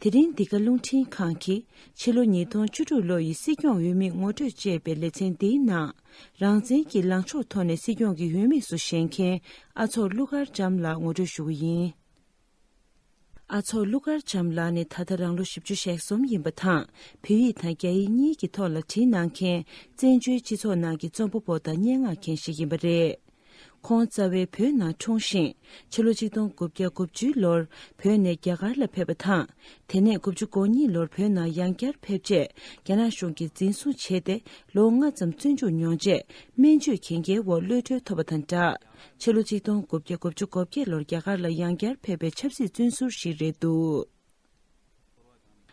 དེ་རིང་འདི་ག་རླུང་འཕྲིན་ཁང་གིས་ཕྱི་ལོ་ཉིས་སྟོང་བཅུ་དྲུག་ལོ་ཡི་སྲིད་སྐྱོང་འོས་དམིགས་ངོ་སྤྲོད་ཅེས་པའི་ལེ་ཚན་འདིའི་ནང། རང་བཙན་གྱི་ལངས་ཕྱོགས་ཐོག་ནས་སྲིད་སྐྱོང་གི་ཡུལ་དམིགས་སུ་བཞེངས་མཁན་ཨ་ཚོགས་ཀླུ་མཁར་བྱམས་ལགས་ངོ་སྤྲོད་ཞུ་གི་ཡིན། ཨ་ཚོགས་ཀླུ་མཁར་བྱམས་ལགས་ནི་ད་ལྟ་རང་ལོ་བཞི་བཅུ་ཞེ་གསུམ་ཡིན་པ་དང་བོད་ཡིག་དང་རྒྱ་ཡིག་གཉིས་ཀྱི་ཐོག་ལ་བྲིས་གནང་མཁན་བཙན་བྱོལ་སྤྱི་ཚོགས་ནང་གི་རྩོམ་པ་པོ་དང་སྙན་ངག་མཁན་ཞིག་ཡིན་པ་རེད། ཁོང་རྩ་བའི་བོད་ནང་འཁྲུངས་ཤིང་ཕྱི་ལོ་ཆིག་སྟོང་དགུ་བརྒྱ་དགུ་བཅུའི་ལོར་བོད་ནས་རྒྱ་གར་ལ་ཕེབས་པ་དང། དེ་ནས་དགུ་བཅུ་གོ་གཉིས་ལོར་བོད་ནང་ཡང་བསྐྱར་ཕེབས་རྗེས་རྒྱ་ནག་གཞུང་གིས་འཛིན་བཟུང་བྱས་ཏེ་ལོ་ལྔ་ཙམ་བཙོན་འཇུག་མྱོང་རྗེས་སྨན་བཅོས་གན་རྒྱའི་འོག་གློད་གྲོལ་ཐོབ་པ་དང་སྦྲགས་ཕྱི་ལོ་ཆིག་སྟོང་དགུ་བརྒྱ་དགུ་བཅུ་གོ་བརྒྱད་ལོར་རྒྱ་གར་ལ་ཡང་བསྐྱར་ཕེབས་པའི་ཆབ་སྲིད་བཙོན་ཟུར་ཞིག་རེད་འདུག།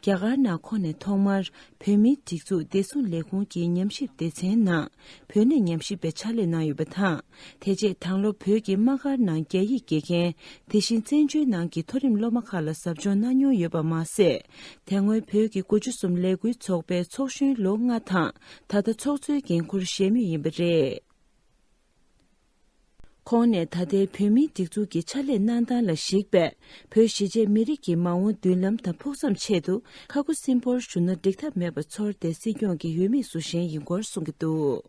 རྒྱ་གར་ནག་ཁོངས་ནས་ཐོག་མར་བོད་མིའི་སྒྲིག་འཛུགས་བདེ་སྲུང་ལས་ཁུངས་ཀྱི་ཉམས་ཞིབ་སྡེ་ཚན་ནང་བོད་གནས་ཉམས་ཞིབ་པའི་ཕྱག་ལས་གནང་ཡོད་པ་དང་དེ་རྗེས་དྭང་སློབ་བོད་ཀྱི་དམག་སྒར་ནང་རྒྱ་ཡིག་དགེ་རྒན་དེ་བཞིན་བཙན་བྱོལ་ནང་གི་མཐོ་རིམ་སློབ་མ་ཁག་ལ་ཟབ་སྦྱོང་གནང་མྱོང་ཡོད་པ་མ་ཟད་དེ་སྔོན་བོད་ཀྱི་དགུ་བཅུ་གསུམ་ལས་འགུལ་ཚོགས་པའི་ཚོགས་གཞོན་ལོ་ལྔ་དང་ད་ལྟ་ཚོགས་གཙོའི་འགན་འཁུར་བཞེས་མུས་ཡིན་པ་རེད། ཁོང་ནས་ད་ལྟའི་བོད་མིའི་སྒྲིག་འཛུགས་ཀྱི་ཕྱག་ལས་གནང་སྟངས་ལ་གཞིགས་པས་བོད་གཞིས་བྱེས་མི་རིགས་ཀྱི་མ་འོངས་མདུན་ལམ་དང་ཕུགས་བསམ་ཆེད་དུ་ཁ་སྒོ་སིམ་པོར་ཞུ་ན་འགྲིག་ཐབས་མེད་པ་ཚོར་ཏེ་སྲིད་སྐྱོང་གི་ཡུལ་མི་སུ་གཞན་ཡིན་སྐོར་གསུངས་ཀྱི་འདུག།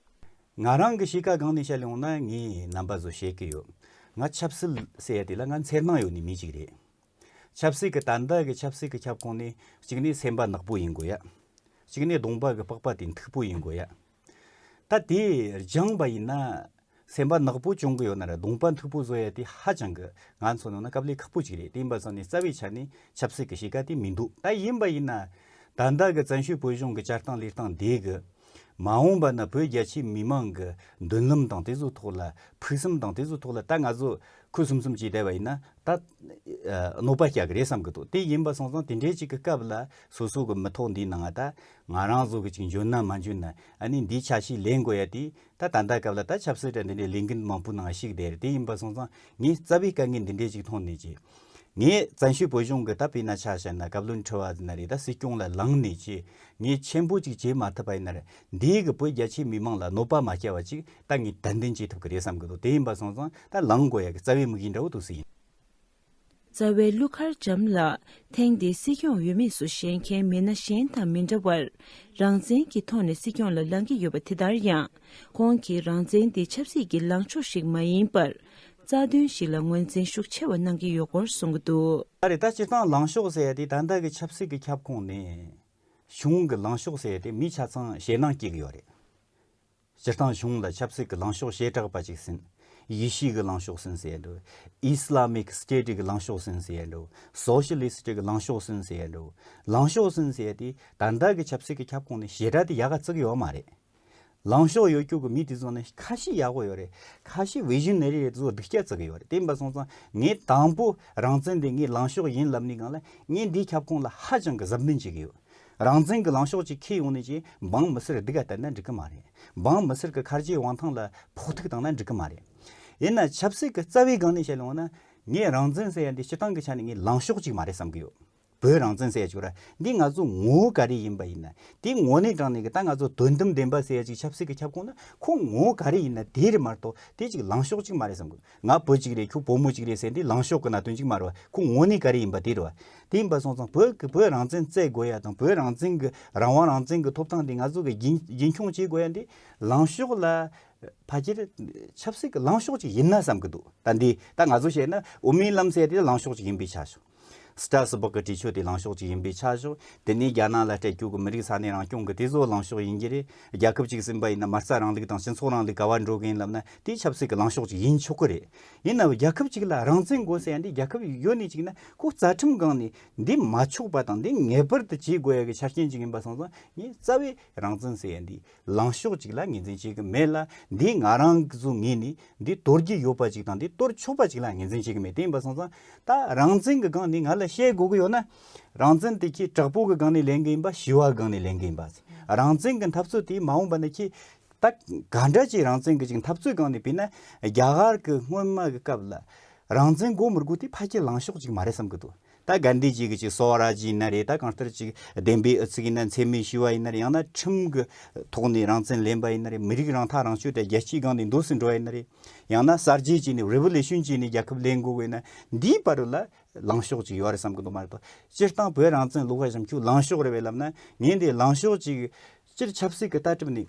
ང་རང་གི་གཤིས་ཀ་གང་ནས་བཤད་ཡོང་ན་ངས་རྣམ་པ་བཟོ་བཤད་ཀྱི་ཡོད། ང་ཆབ་སྲིད་ཟེར་ཡ་དེ་ལ་ང་འཚེར་སྣང་ཡོད་ནི་མི་ཅིག་རེད། ཆབ་སྲིད་ཀྱི་ད་ལྟ་གི་ཆབ་སྲིད་ཀྱི་ཁྱབ་ཁོངས་ནི་གཅིག་ནས་སེམས་པ་ནག་པོ་ཡིན་དགོས་ཡ། གཅིག་ནས་གདོང་པ་གི་པགས་པ་དེ་མཐུག་པོ་ཡིན་དགོས་ཡ། ད་དེ་སྦྱངས་པ་ཡིན་ན་སེམས་པ་ནག་པོ་བྱུང་གི་ཡོད་ན་རེད་གདོང་པ་མཐུག་པོ་བཟོ་ཡ་དེ་ཧ་ཅང་གི་ང་ཚོ་ནང་ན་སྐབས་ལས་ཁག་པོ་ཅིག་རེད་དེ་ཡིན་པ་བཟོ་ནས་རྩ་བའི་ཆ་ནས་ཆབ་སྲིད་ཀྱི་གཤིས་ཀ་དེ་མི་འདུག་ད་ཡིན་པ་ཡིན་ན་ད་ལྟ་གི་བཙན་བྱོལ་བོད་གཞུང་གི་བསྐྱར་བཏང་ལེགས་བཏང་དེ་གི་མ་འོངས་པ་ན་བོད་རྒྱ་ཆེའི་མི་མང་གི་འདུན་ལམ་དང་དེ་ཚོའི་ཐོག་ལ་ཕུགས་བསམ་དང་དེ་ཚོའི་ཐོག་ལ་ད་ང་ཚོ་ཁུ་སུམ་སུམ་བྱས་བསྡད་པ་ཡིན་ན་ད་གནོད་པ་རྒྱག་གི་རེད་བསམ་གི་འདུག་དེ་ཡིན་པ་སོང་ཙང་དེ་འདྲའི་ཅིག་གི་སྐབས་ལ་སོ་སོ་གི་མི་ཐོག་འདིའི་ནང་ང་ད་ང་རང་ཚོ་གི་ཅིག་འཇོན་ན་མ་འཇོན་ན་ཨ་ནི་འདིའི་ཆ་ཞིག་ལེན་དགོས་ཡ་དེ། ད་ད་ལྟ་སྐབས་ལ་ད་ཆབ་སྲིད་དྲ་འདི་འདྲའི་ལས་འགུལ་མང་པོ་ནང་ཞིག་བསྡད་རེད་དེ་ཡིན་པ་སོང་ཙང་ངས་རྩ་བའི་དཀའ་ངལ་འདི་འདྲའི་ཅིག་མཐོང་ནས་ཀྱི། ངས་བཙན་བྱོལ་བོད་གཞུང་གི་ད་བི་ན་ཆ་བྱས་ན་བཀའ་བློན་ཁྲི་བ་འདི་ན་རེད་ད་སྲིད་སྐྱོང་ལ་ལངས་ནས་ཀྱི། ངས་མཆན་བུ་ཅིག་བྱེད་མ་ཐུབ་པ་ཡིན་ནར་འདིའི་གི་བོད་རྒྱ་ཆེའི་མི་མང་ལ་གནོད་པ་མ་སྐྱལ་བ་ཅིག་ད་ངས་དད་འདུན་བྱེད་ཐུབ་གི་རེད་བསམ་གི་འདུག་དེ་ཡིན་པ་སོང་ཙང་ད་ལངས་དགོས་ཡ་གི་རྩ་བའི་དམིགས་ཡུལ་འདྲ་བོ་འདུག་སྲིད། རྩ་བའི་ཀླུ་མཁར་བྱམས་ལ་ཐེངས་འདིའི་སྲིད་སྐྱོང་འོས་མིས་སུ་བཞེས་མཁན་མི་སྣ་གཞན་དང་མི་འདྲ་བར་རང་བཙན་གྱི་ཐོག་ནས་སྲིད་སྐྱོང་ལ་ལངས་ཀྱི་ཡོད་པ་དེ་ལྟར་ཡང་ཁོང་གིས་རང་བཙན་དེ་ཆབ་སྲིད་ཀྱི་ལངས་ཕྱོགས་ཤིག་མ་ཡིན་པར་རྩ་དོན་ཞིག་ལ་ངོས་འཛིན་ཤུགས་ཆེ་བ་གནང་གི་ཡོད་སྐོར་གསུངས་གི་འདུག། ད་རེས་ད་སྤྱིར་བཏང་ལངས་ཕྱོགས་ཟེར་ཡ་དེ་ད་ལྟ་གི་ཆབ་སྲིད་ཀྱི་ཁྱབ་ཁོངས་ནས། གཞུང་གི་ལངས་ཕྱོགས་ཟེར་ཡ་དེ་མི་ཆ་ཚང་ཞེད་སྣང་སྐྱེས་ཀྱི་ཡོད་རེད། སྤྱིར་བཏང་གཞུང་ལ་ཆབ་སྲིད་ཀྱི་ལངས་ཕྱོགས་བྱེ་བྲག་པ་ཅིག་ཟིན། དབྱི་ཤིས་ཀྱི་ལངས་ཕྱོགས་ཟིན་ཟེར་ཡ་འགྲོ། Islamic State ཀྱི་ལངས་ཕྱོགས་ཟིན་ཟེར་ཡ་འགྲོ། Socialist ཀྱི་ལངས་ཕྱོགས་ཟིན་ཟེར་ཡ་འགྲོ། ལངས་ཕྱོགས་ཟིན་ཟེར་དུས་ད་ལྟ་གི་ཆབ་སྲིད་ཀྱི་ཁྱབ་ཁོངས་ནི་བྱེ་བྲག་དེ་ཡག་ག་བརྩེགས་ཡོད་མ་རེད། ལངས་ཕྱོགས་ཡོད་རྒྱུགས་ཀྱི་མི་དེ་ཚོ་ནི་ཁ་ཤས་ཡག་པོ་ཡོད་རེད། ཁ་ཤས Visionary རེད་དེ་ཚོ་སྡིག་སྐྱག་བརྩེགས་ཀྱི་ཡོད་རེད་དེ་འབའ་སོང་ཙང་ངས་དང་པོ་རང་བཙན་དེ་ངའི་ལངས་ཕྱོགས་ཡིན་ལབ་ནས་གང་ལ་ངས་འདིའི་ཁྱབ་ཁོངས་ལ་ཧ་ཅང་གི་གཟབ་ནན་བྱེད་ཀྱི་ཡོད། རང་བཙན་གྱི་ལངས་ཕྱོགས་ཅིག་འཁེལ་ཡོང་ནས་ཀྱི་འབངས་མི་སེར་སྡིག་ག་བསྟེར་ན་འགྲིག་གི་མ་རེད། འབངས་མི་སེར་གྱི་ཁར་ཆེའི་དབང་ཐང་ལ་ཕོག་ཐུག་བཏང་ན་འགྲིག་གི་མ་རེད། ཡིན་ན་ཆབ་སྲིད་ཀྱི་རྩ་བའི་སྒང་ནས་བཤད་ལོང་ན། ངས་རང་བཙན་ཟེར་ཡ་འདི་སྤྱི་སྟངས་ཀྱི་ཆ་ནས་ངའི་ལངས་ཕྱོགས་ཅིག་མ་རེད་བསམ་གྱི་ཡོད། བོད་རང་བཙན་ཟེར་ཡ་ཅིག་ར་འདི་ང་ཚོའི་ངོ་བོ་ག་རེ་ཡིན་པ་ཡིན་ན་དེའི་ངོ་གནས་དྲངས་ནས་ཀྱི་ད་ང་ཚོ་དོན་དམ་བདེན་པ་ཟེར་ཡ་ཅིག་ཆབ་སྲིད་ཀྱི་ཁྱབ་ཁོངས་ན་ཁོང་ངོ་བོ་ག་རེ་ཡིན་ན་དེ་རེད་མ་གཏོགས་དེ་ཅིག་ལངས་ཕྱོགས་ཅིག་མ་རེད་བསམ་གྱི་ཡོད། ང་བུ་གཅིག་རེད་ཁྱོད་བུ་མོ་གཅིག་རེད་ཟེར་འདི་ལངས་ཤོག་གི་ན་དོན་གཅིག་མ་རེད་བ་ཁོ་ངོ་ནི་ག་རེ་ཡིན་པ་དེ་རེད་བ། དེ་ཡིན་པ་སོང་ཙང་བོད་ཀྱི་བོད་རང་བཙན་བརྩད་དགོས་ཡ་དང་བོད་རང་བཙན་གྱི་རང་དབང་རང་བཙན་གྱི་ཐོབ་ཐང་དེ་ང་ཚོ་གི་རྒྱུན་རྒྱུན་འཁྱོངས་བྱེད་དགོས་ཡ་འདི་ལངས་ཤོག་ལ། ཕ་ཁྱེར་ཆབ་སྲིད་ཀྱི་ལངས་ཤོག་ཅིག་ཡིན་ན་བསམ་གྱི་འདུག་ད་འདི་ད་ང་ཚོ་བཤད་ན་འོ་མིའི་ལམ་ཟེར་དེ་ལངས་ཤོག་ཅིག་ཡིན་པས་ཆ་བཞག། སི་ཏྲ་སི་པོག་གི་འབྲི་ཆུ་དེ་ལངས་ཕྱོགས་གཅིག་ཡིན་པའི་ཆ་བཞག་དེ་ནི་རྒྱ་ནག་ལ་སྤྲད་རྒྱུག་གི་མི་རིགས་ས་གནས་རང་སྐྱོང་གི་དེ་བཟོ་ལངས་ཕྱོགས་ཡིན་གྱི་རེད། རྒྱལ་ཁབ་གཅིག་ཟིན་པ་ཡིན་ན་མ་རྩ་རང་ལུགས་དང་སྤྱི་ཚོགས་རང་ལུགས་ག་བར་འགྲོ་གི་ཡིན་ལབ་ན་དེ་ཆབ་སྲིད་ཀྱི་ལངས་ཕྱོགས་གཅིག་ཡིན་ཆོག་གི་རེད། ཡིན་ནའོ་རྒྱལ་ཁབ་གཅིག་ལ་རང་བཙན་དགོས་ཟེར་ཡ་འདི་རྒྱལ་ཁབ་ཡོད་ནི་གཅིག་ན་ཁོ་རྩ་ཁྲིམས་སྒང་ནས་འདི་མ་ཆོག་པ་དང་འདི་ངེས་པར་དུ་བྱེད་དགོས་ཡ་གི་ཆ་རྐྱེན་གཅིག་ཡིན་པ་སོང་ཙང་ངས་རྩ་བའི་རང་བཙན་ཟེར་ཡ་འདི་ལངས་ཕྱོགས་ཅིག་ལ་ངེས་འཛིན་བྱེད་ཀྱི་མེད་ལ། འདིས་ང་རང་གིས་སུ་ངས་ནི་འདི་དོར་གྱི་ཡོད་པ་ཅིག་དང་འདི་དོར་ཆོག་པ་ཅིག་ལ་ངེས་འཛིན་བྱེད་ཀྱི་མེད་དེ་ཡིན་པ་སོང་ཙང། ད་རང་བཙན་གྱི་སྒང་ནས་ང་ལ་བཤད་དགོས་ཀྱི་ཡོད་ན། རང་བཙན་དེ་ཁྱེད་དྲག་པོ་གི་སྒང་ནས་ལེན་གྱི་ཡིན་པ་ཞི་བ་སྒང་ནས་ལེན་གྱི་ཡིན་པ། རང་བཙན་གྱི་འཐབ་རྩོད་དེ་མ་འོངས་པ་ན་ཁྱེད་ད་ག་འདྲ་ཅིག་རང་བཙན་གྱི་ཅིག་འཐབ་རྩོད་སྒང་ནས་བུད་ན། རྒྱ་གར་གྱི་སྔོན་མ་གི་སྐབས་ལ། རང་བཙན་དགོས་མི་དགོས་དེ་ཕ་ཁྱེད་ལངས་ཕྱོགས་ཅིག་མ་རེད་བསམ་གྱི་འདུག་ད་དགའ་འདི་ཅིག་གི་ཅིག་སོ་བ་ར་ཅིག་ཡིན་ན་རེད་ད་གང་ལྟར་ཅིག་བདེན་པའི་ཨུ་ཚུགས་ཡིན་ན་འཚེ་མེད་ཞི་བ་ཡིན་ན་རེད་ཡང་ན་ཁྲིམས་ཀྱི་ཐོག་ནས་རང་བཙན་ལེན་པ་ཡིན་ན་རེད་མི་རིགས་རང་ཐག་རང་གཅོད་དེ་རྒྱལ་སྤྱིའི་སྒང་ནས་འདུག་སུ་འགྲོ་བ་ཡིན་ན་རེད་ཡང་ན་གསར་བརྗེ་བྱས་ནས Revolution བྱས་ནས་རྒྱལ་ཁབ་ལེན་དགོས་བས་ན་འདིའི་བར་རུ་ལ་ལངས་ཕྱོགས་ཅིག་ཡོད་རེད་བསམ་གྱི་འདུག་མ་རེད་དོ། སྤྱིར་བཏང་བོད་རང་བཙན་ལུགས་བ་བཞམས་ཁྱུག་ལངས་ཕྱོགས་རེད་བས་ལབ་ན་ངས་འདི་ལངས་ཕྱོགས་ཅིག་སྤྱིར་ཆབ་སྲིད་ཀྱི་ལྟ་གྲུབ་ནི།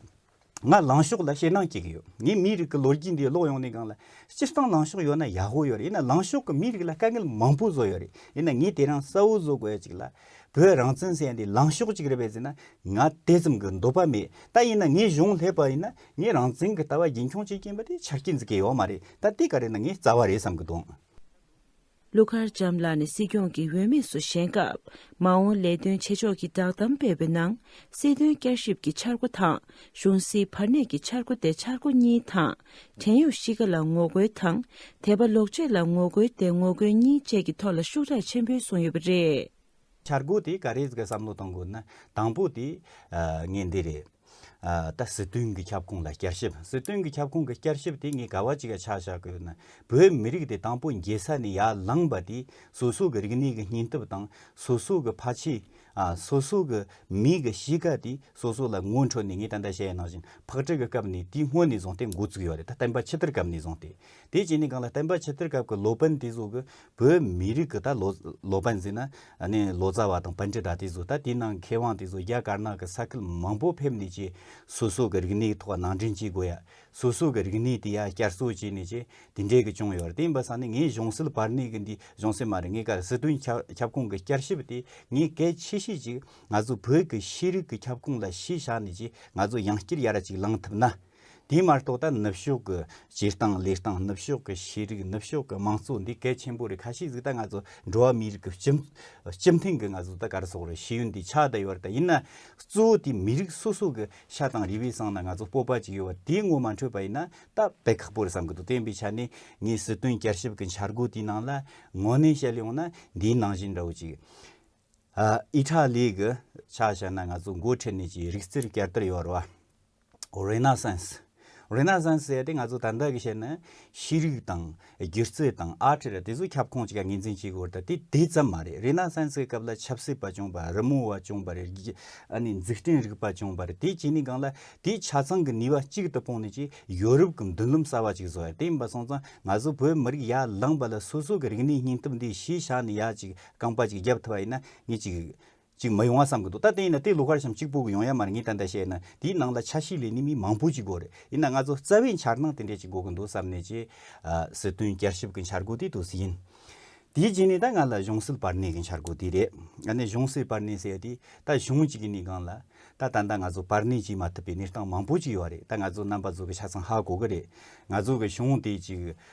ང་ལངས་ཕྱོགས་ལ་ཞེད་སྣང་སྐྱེ་གི་ཡོད། ངས་མིའི་རིགས་ཀྱི་ལོ་རྒྱུས་འདི་ཀློག་ཡོང་ནས་གང་ལ། སྤྱིར་བཏང་ལངས་ཕྱོགས་ཡོད་ན་ཡག་པོ་ཡོད་རེད། ཡིན་ན་ལངས་ཕྱོགས་ཀྱིས་མིའི་རིགས་ལ་དཀའ་ངལ་མང་པོ་བཟོ་ཡོད་རེད། ཡིན་ན་ངས་དེ་རང་གསལ་བོ་བཟོ་དགོས་ཡ་ཅིག་ལ། བོད་རང་བཙན་ཟེར་ཡ་འདི་ལངས་ཕྱོགས་ཅིག་རེད་པས་ཟེར་ན། ང་དེ་ཙམ་གྱི་འདོད་པ་མེད། ད་ཡིན་ན་ངས་གཞུང་ལྷད་པ་ཡིན་ན། ངས་རང་བཙན་གྱི་ལྟ་བ་རྒྱུན་འཁྱོངས་བྱེད་ཀྱིན་པ་དེ་ཆ་རྐྱེན་འཛིན་གྱི་ཡོད་མ་རེད། ད་དེ་ག་རེད་ན་ངས་རྩ་བ་རེད་བསམ་གྱི་འདུག། ཀླུ་མཁར་བྱམས་ལགས་ནས་སྲིད་སྐྱོང་གི་འོས་མིས་སུ་བཞེངས་སྐབས་མ་འོངས་ལས་དོན་བྱེད་ཕྱོགས་ཀྱི་བསྒྲགས་གཏམ་སྤེལ་བའི་ནང་སྲིད་དོན་བསྐྱར་ཞིབ་ཀྱི་འཆར་སྒོ་དང་གཞུང་སྲིད་བར་གནས་ཀྱི་འཆར་སྒོ་སྟེ་འཆར་སྒོ་གཉིས་དང། བྲན་གཡོག་གཤིས་ཀ་ལ་ངོ་རྒོལ་དང་དད་པ་ལོག་སྤྱོད་ལ་ངོ་རྒོལ་སྟེ་ངོ་རྒོལ་གཉིས་བཅས་ཀྱི་ཐོག་ལ་ཤུགས་དྲག་ཆེན་པོས་གསུངས་ཡོད་པ་རེད། འཆར་སྒོ་དེ་ག་རེ་གི་བསམ་བློ་གཏོང་དགོས་ན་དང་པོ་དེ་ངས་འདི་རེད། ད་སྲིད་དོན་གྱི་ཁྱབ་ཁོངས་ལ་བསྐྱར་ཞིབ་སྲིད་དོན་གྱི་ཁྱབ་ཁོངས་ཀྱི་བསྐྱར་ཞིབ་དེ་ངས་ག་བ་ཅིག་ཆགས་བཞག་གི་ཡོད་ན་བོད་མི་རིགས་དེ་དང་པོ་འགྱེལ་ས་ནས་ཡར་ལངས་པ་དེ་སོ་སོ་གི་རིག་གནས་ཀྱི་སྙིང་སྟོབས་དང་སོ་སོ་གི་ཕ་ཆེ་སོ་སོ་གི་མིག་གི་གཤིས་ཀ་དེ་སོ་སོ་ལ་ངོ་འཕྲོད་ནས་ངས་ད་ལྟ་བཤད་ཡ་ནང་བཞིན་ཕག་ཁྲིད་ཀྱི་སྐབས་ནས་དེ་སྔོན་ནས་བཟུང་སྟེ་འགོ་བཙུགས་ཡོད་རེད་ད་བསྟན་པ་ཕྱི་དར་སྐབས་ནས་བཟུང་སྟེ་དེ་བྱས་ནས་གང་ལ་བསྟན་པ་ཕྱི་དར་སྐབས་ཀྱི་ལོ་པན་དེ་ཚོ་གི་བོད་མི་རིགས་ཀྱི་ད་ལོ་ལོ་པན་ཟེར་ན་ལོ་ཙཱ་བ་དང་པན་ཏྲི་ཏྲ་དེ་ཚོ་ད་དེ་ནང་མཁས་དབང་དེ་ཚོ་རྒྱ་དཀར་ནག་གི་ས་ཁུལ་མང་པོ་ཕེབས་ནས་ཀྱི་སོ་སོ་གི་རིག་གནས་ཐོག་ནང་འདྲེན་བྱེད་དགོས་ཡ། སོ་སོ་གི་རིག་གནས་དེ་ཡ་བསྐྱར་གསོ་བྱས་ནས་ཀྱི་དེ་འདྲས་ཀྱི་བྱུང་ཡོད་རེད་དེ་ཡིན་པ་ས་ནི་ངས་གཞུང་སྲིད་བར་གནས་ཀྱི་འདི་གཞུང་སྲིད་མ་རེད་ངས་ཀར་སྲིད་དོན་ཁྱབ་ཁོངས་ཀྱི་བསྐྱར་ཞིབ་དེ་ངས་གལ་ཆེ་ཤོས་ཅིག་ང་ཚོ་བོད་ཀྱི་ཤེས་རིག་གི་ཁྱབ་ཁོངས་ལ་གཞི་བཞག་ནས་ཀྱི་ང་ཚོ་ཡང་བསྐྱར་ཡར་ཅིག་ལངས་ཐུབ་ན། དེའི་མ་གཏོགས་ད་ནུབ་ཕྱོགས་ཀྱི་སྤྱིར་བཏང་ལས་བཏང་ནུབ་ཕྱོགས་ཀྱི་ཤེས་རིག་ནུབ་ཕྱོགས་ཀྱི་དམངས་གཙོ་འདི་གལ་ཆེན་པོ་རེད་ཁ་ཤས་གཟིགས་ད་ང་ཚོ་འགྲོ་བ་མིའི་རིགས་ཀྱི་སྤྱི་སྤྱི་མཐུན་གྱི་ང་ཚོ་ད་གར་སོགས་རེད་ཤེས་ཡོན་འདི་ཆགས་ད་ཡོད་རེད་ད་ཡིན་ན་གཙོ་བོ་དེ་མི་རིགས་སོ་སོ་གྱི་ཤ་དང་རི་བའི་སྲང་ན་ང་ཚོ་སྤོབས་པ་ཅིག་ཡོད་པ་དེའི་ངོ་མ་འཕྲོད་པ་ཡིན་ན་ད་བད་ཁག་པོ་རེད་བསམ་གྱི་འདུག་དེ་ཡིན་པའི་ཆ་ནས་ངས་སྲིད་དོན་བསྐྱར་ཞིབ་ཀྱི་འཆར་སྒོ་དེའི་ནང་ལ་དངོས་གནས་བཤད་ཡོང་ན་འདིའི་ནང་བཞིན་འདྲ་བོ་ཅིག་ཨི་ཐ་ལི་གི་ཆ་བཤད་ན་ང་ཚོ་མགོ་ཁྲིད་ནས་ཀྱི་རིག་རྩལ་བསྐྱར་དར་ཡོང་བར་བ། Renaissance། Renaissance ཟེར་ཏེ་ང་ཚོ་ད་ལྟ་གི་བཤད་ན་ཤེས་རིག་དང་སྒྱུ་རྩལ་དང་ཨར་ཏི་ར་དེ་ཚོ་ཁྱབ་ཁོངས་ཀྱི་ངེས་འཛིན་བྱེད་དགོས་རེད་དེ་དེ་ཙམ་མ་རེད Renaissance གི་སྐབས་ལ་ཆབ་སྲིད་པ་བྱུང་བ་རི་མོ་བ་བྱུང་བ་རེད་ཨ་ནི་འཛིག་སྐྲན་རིག་པ་བྱུང་བ་རེད་དེ་བྱས་ནས་གང་ལ་དེའི་ཆ་ཚང་གི་ནུས་པ་གཅིག་ཏུ་སྤུངས་ནས་ཀྱི་ཡོ་རུབ་གི་མདུན་ལམ་གསར་བ་ཅིག་བཟོ་ཡ་དེ་ཡིན་པ་སོང་ཙང་ང་ཚོ་བོད་མི་རིགས་ཡར་ལངས་པ་ལ་སོ་སོ་གི་རིག་གནས་སྙིང་སྟོབས་འདི་གཞི་བཞག་ནས་ཡ་ཅིག་རྐང་པ་ཅིག་བརྒྱབ་ཐུབ་པ་ཡིན་ན་ངས་ཅིག། ཅིག་མ་ཡོང་བ་བསམ་གྱི་འདུག་ད་བལྟས་ཡིན་ན་དེ་ལུག་ཁར་ཤམ་གཅིག་སྤུ་གི་ཡོང་ཡ་མ་རེད་ངས་ད་ལྟ་བཤད་ན་དེའི་ནང་ལ་ཆ་ཤས་ལས་ནི་མི་མང་པོ་ཅིག་དགོས་རེད་ཡིན་ན་ང་ཚོ་རྩ་བའི་འཆར་སྣང་དེ་འདྲས་ཅིག་དགོས་གི་འདུག་བསམ་ནས་ཀྱི། སྲིད་དོན་བསྐྱར་ཞིབ་གི་འཆར་སྒོ་དེ་དུས་སུ་ཡིན། དེའི་རྗེས་ནས་ད་ང་ལ་གཞུང་སྲིད་བར་གནས་ཀྱི་འཆར་སྒོ་དེ་རེད། ཡང་ན་གཞུང་སྲིད་བར་གནས་ཟེར་ཡ་དེ་ད་གཞུང་གཅིག་གི་གནས་གང་ལ། ད་ད་ལྟ་ང་ཚོ་བར་གནས་བྱེད་མ་ཐུབ་པའི་གནས་སྟངས་མང་པོ་ཅིག་ཡོད་རེད་ད་ང་ཚོ་རྣམ་པ་ཚོ་གི་ཆ་ཚང་ཧ་གོ་གི་རེད། ང་ཚོ་གི་གཞུང་དེ་ཅིག།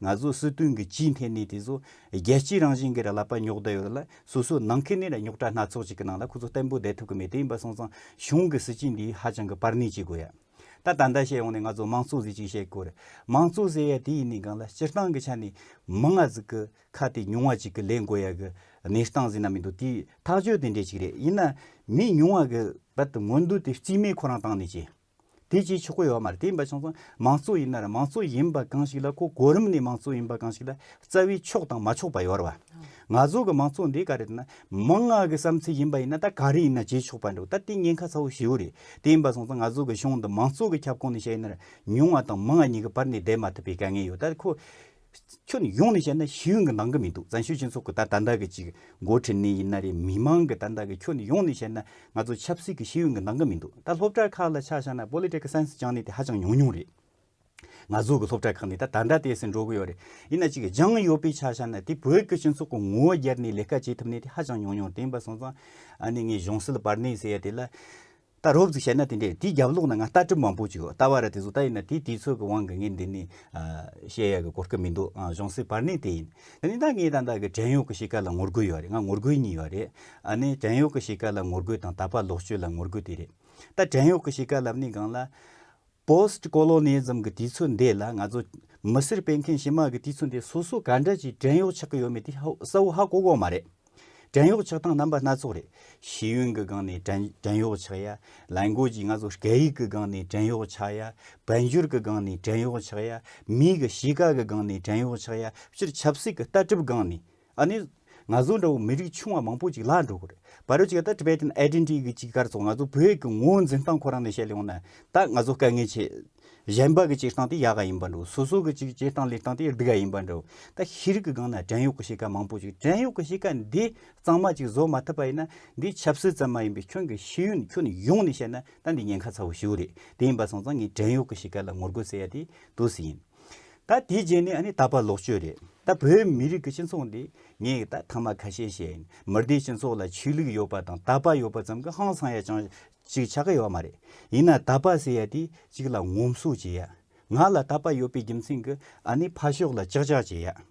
ང་ཚོ་སྲིད་དོན་གྱི་སྤྱིའི་ཐད་ནས་དེ་ཚོ་རྒྱལ་སྤྱིའི་རང་བཞིན་གྱི་ར་ལ་པ་ཉོག་བསྡད་ཡོད་རེད་ལ་སོ་སོའི་ནང་ཁེ་ནི་ར་ཉོག་དྲ་སྣ་ཚོགས་ཅིག་གི་ནང་ལ་ཁོ་ཚོ་བརྟན་པོ་བསྡད་ཐུབ་ཀྱི་མེད་དེ་ཡིན་པ་སོང་ཙང་གཞུང་གི་སྲིད་སྤྱི་འདིས་ཧ་ཅང་གི་པར་ནི་བྱེད་དགོས་ཡ། ད་ད་ལྟ་བཤད་ཡོང་ནས་ང་ཚོ་མང་གཙོ་ཟེར་ཅིག་བཤད་དགོས་རེད། མང་གཙོ་ཟེར་ཡ་དེ་ཡིན་ནི་གང་ལ་སྤྱིར་བཏང་གི་ཆ་ནས་མི་ང་ཚོ་གི་ཁ་དེ་ཉུང་བ་ཅིག་གི་ལས་དགོས་ཡ་གི་གནས་སྟངས་ཟེར་ན་མི་འདུག་དེའི་ཐག་གཅོད་དེ་འདྲས་ཅིག་རེད་ཡིན་ན་མི་ཉུང་བ་གི་བར་དུ་ངོ་འདུག་དེ་རྩིས་མེད་ཁོ་རང་བཏང་ནི་ཅི། དེ་ཅིའི་ཕྱིར་གོ་ཡོ་མར་དེ་འབའ་ཆང་ཚང་མང་གཙོ་ཡིན་ནར་མང་གཙོ་ཡིན་པ་གང་ཞིག་ལ་གོ་གོ་རིམ་ནས་མང་གཙོ་ཡིན་པ་གང་ཞིག་ལ་རྩ་བའི་ཕྱོགས་དང་མ་ཕྱོགས་པ་ཡོར་བ། ང་ཚོ་གི་མང་གཙོ་འདི་ག་རེ་རེད་ན་མང་ང་གི་བསམ་ཚུལ་ཡིན་པ་ཡིན་ན་ད་ག་རེ་ཡིན་ན་བྱེད་ཆོག་པ་འདུག་ད་དེ་ཉེན་ཁ་ཚ་བོ་ཞེའུ་རེད་དེ་འབའ་ཚང་ཚང་ང་ཚོ་གི་གཞུང་འདི་མང་གཙོ་གི་ཁྱབ་ཁོངས་ནས་བཤད་ཡིན་ནར་ཉུང་བ་དང་མང་ང་གཉིས་ཀ་བར་ནས་བསྡད་མ་ཐུབ་པའི་དཀའ་ངལ་ཡོ་ད་ཁོ་ཁྱོད་ནི་ཡོང་ནས་བཤད་ན་ཤེས་ཡོན་གྱི་ནང་གི་མི་འདུག་བཙན་བྱོལ་སྤྱི་ཚོགས་ཀྱི་ད་ད་འདའ་གི་ཅིག་མགོ་ཁྲིད་ནི་ཡིན་ན་རེད་མི་མང་གི་ད་འདའ་གི་ཁྱོད་ནི་ཡོང་ནས་བཤད་ན་ང་ཚོ་ཆབ་སྲིད་ཀྱི་ཤེས་ཡོན་གྱི་ནང་གི་མི་འདུག་ད་སློབ་གྲྭ་ཁག་ལ་ཆ་བཞག་ན Political Science སྦྱངས་ནི་དེ་ཧ་ཅང་ཉུང་ཉུང་རེད། ང་ཚོ་གི་སློབ་གྲྭ་ཁག་ནི་ད་ད་འདྲ་དེ་ཟེར་འགྲོ་གི་ཡོད་རེད། ཡིན་ན་ཅིག་སྦྱངས་ཡོད་པའི་ཆ་བཞག་ན་དེ་བོད་ཀྱི་སྤྱི་ཚོགས་ཀྱི་ངོ་བོ་བརྒྱར་ནི་ལས་ཀ་བྱེད་ཐུབ་ནི་དེ་ཧ་ཅང་ཉུང་ཉུང་དེ་འབའ་སོང་ཙང་ཨ་ནི་ངས་གཞུང་སྲིད་པར་ནི་ཟེར་ཡ་དེ་ལ་ད་རོབ་ཙིག་བཤད་ན་དེ་འདྲས་དེའི་རྒྱབ་ལོག་ན་ང་ལྟ་གྲིབ་མང་པོ་ཅིག་ཡོད་ལྟ་བ་རེད་དེ་ཟོ་ལྟ་ཡིན་ན་དེ་དེའི་ཚོད་ཀྱི་དབང་གི་ངས་འདི་ནས་བཤད་ཡག་གི་གོ་སྐབས་མི་འདུག་གཞུང་སྲིད་བར་གནས་དེ་ཡིན་དེ་ནས་ད་ངས་ད་ལྟ་གི་བྲན་གཡོག་གི་གཤིས་ཀ་ལ་ངོ་རྒོལ་ཡོད་རེད་ང་ངོ་རྒོལ་གཉིས་ཡོད་རེད་ཨ་ནི་བྲན་གཡོག་གི་གཤིས་ཀ་ལ་ངོ་རྒོལ་དང་ད་བར་ལོག་སྤྱོད་ལ་ངོ་རྒོལ་དེ་རེད་ད་བྲན་གཡོག་གི་གཤིས་ཀ་ལབ་ནས་གང་ལ། Post Colonialism གི་དུས་ཚོད་འདི་ལ་ང་ཚོ་མི་སེར་སྤེལ་མཁན་ཞི་དམག་གི་དུས་ཚོད་འདི་སོ་སོ་ག་འདྲ་ཞིག་བྲན་གཡོག་ཆགས་ཀྱི་ཡོད་མེད་དེ་གསལ་བོ་ཧ་གོ་གོ་མ་རེད། བྲན་གཡོག་ཆགས་སྟངས་རྣམ་པ་སྣ་ཚོགས་རེད། ཤེས་ཡོན་གྱི་སྒང་ནས་བྲན་གཡོག་ཆགས་ཡ། ལས་འགོ་ཅིག་ང་ཚོ་སྐད་ཡིག་གི་སྒང་ནས་བྲན་གཡོག་ཆགས་ཡ། དཔལ་འབྱོར་གྱི་སྒང་ནས་བྲན་གཡོག་ཆགས་ཡ། མིའི་གཞིས་ཀ་གི་སྒང་ནས་བྲན་གཡོག་ཆགས་ཡ། སྤྱིར་ཆབ་སྲིད་ཀྱི་ལྟ་གྲུབ་སྒང་ནས་ཨ་ནི། ང་ཚོ་འདྲ་བོ་མི་རིགས་ཆུང་བ་མང་པོ་ཅིག་ལྷག་འགྲོ་གི་རེད། བ་རོ་ཅིག་ད Tibetan Identity གི་ཅིག་སྐར་ཚོགས་ང་ཚོ་བོད་ཀྱི་ངོ་བོ་འཛིན་སྟངས་ཁོ་རང་ནས་བཤད་ལེ་ཡོང་ན་ད་ང་ཚོ་དཀའ་ངལ་ཆེ། གཞན་པ་གི་ཅིག་སྟངས་དེ་ཡག་ག་ཡིན་པ་འདྲོ་སོ་སོ་གི་ཅིག་སྐྱེ་སྟངས་ལས་སྟངས་དེ་སྡུག་ག་ཡིན་པ་འདྲོ། ད་ཤེས་རིག་གི་སྒང་ན་བྲན་གཡོག་གི་བྱེད་ཀ་མང་པོ་ཅིག་བྲན་གཡོག་གི་བྱེད་ཀ་འདི་གཙང་མ་ཅིག་བཟོ་མ་ཐུབ་པ་ཡིན་ན་འདི་ཆབ་སྲིད་ཙམ་མ་ཡིན་པའི་ཁྱོད་ཀྱི་ཤེས་ཡོན་ཁྱོན་ཡོངས་ནས་བཤད་ན་ད་འདི་ཉེན་ཁ་ཚ་བོ་ཞིག་རེད་དེ་ཡིན་པ་སོང་ཙང་ངས་བྲན་གཡོག་གི་བྱེད་ཀ་ལ་ངོ་རྒོལ་བྱེད་ཡ་དེ་དུས་སུ་ཡིན། ད་དེའི་རྗེས་ནས་ད་ཕར་ལོག་སྤྱོད་རེད་ད་བོད་མི་རིགས་ཀྱི་སྤྱི་ཚོགས་འདི་ངས་ད་ཐང་མ་ཁ་ཤས་ཤེས་མི་སྡེའི་སྤྱི་ཚོགས་ལ་ཆོས་ལུགས་ཡོད་པ་དང་ད་ཕར་ཡོད་པ་ཙམ་གྱི་ཧང་སང་ཡ་ཅང་ཅིག་ཆགས་ཀྱི་ཡོད་མ་རེད་ཡིན་ན་ད་ཕར་ཟེར་ཡ་དེ་གཅིག་ལ་ངོམ་སོ་བྱེད་ཡ་ང་ལ་ད་ཕར་ཡོད་པའི་རྒྱུ་མཚན་གྱི་ཨ་ནི་ཕར་ཕྱོགས་ལ་ཅག་ཅག་བྱེད་ཡ།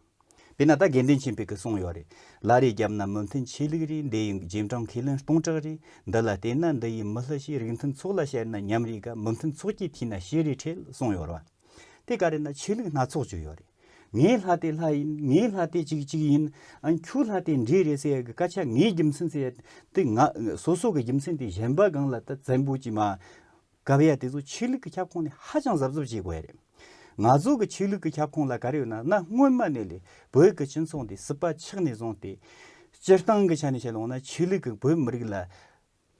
དཔེར་ན་ད་དགེ་འདུན་ཆེན་བོད་ཀྱི་གསུང་ཡོད་རེད་ལ་རེ་རྒྱབ་ན་མོ་མཐུན་ཆོས་ལུགས་རེད་འདི་ཡི་རྗེས་འབྲང་ཁས་ལེན་སྟོང་གྲགས་རེད་འདི་ལ་བལྟས་ན་འདི་ཡི་མི་ལྷ་ཞིག་རིགས་མཐུན་ཚོགས་ལ་བཤད་ན་ཉམས་རེད་ག་མི་མཐུན་ཚོགས་ཀྱི་ཐིས་ན་ཤི་རེ་ཁྲེལ་གསུང་ཡོད་རེད་དེ་ག་རེད་ན་ཆོས་ལུགས་སྣ་ཚོགས་བཅུ་ཡོད་རེད་ངའི་ལྷ་དེ་ལྷ་ཡིན་ངའི་ལྷ་དེ་ཅིག་ཅིག་ཡིན་ཨང་ཁྱོའི་ལྷ་དེ་འདྲས་རེད་ཟེར་གི་སྐད་ཆ་ངའི་རྒྱུ་མཚན་ཟེར་དེ་ང་སོ་སོ་གི་རྒྱུ་མཚན་དེ་གཞན་པ་གང་ལ་ད་བཙན་པོ་ཀྱི་མ་གབ་ཡས་དེ་ཚོ་ཆོས་ལུགས་ཀྱི་ཁྱབ་ཁོངས་ནས་ཧ་ཅང་གཟབ་གཟབ་བྱེད་དགོས་ཡས་རེད། ང་ཚོ་གི་ཆོས་ལུགས་ཀྱི་ཁྱབ་ཁོངས་ལ་ག་རེ་ཡོད་ན་ན་སྔོན་མ་ནས་ལས་བོད་ཀྱི་སྤྱི་མཚུངས་དེ་སྲིད་པ་ཆགས་ནས་བཟུང་སྟེ། སྤྱིར་བཏང་གི་ཆ་ནས་བཤད་ལོང་ན་ཆོས་ལུགས་ཀྱི་བོད་མི་རིགས་ལ་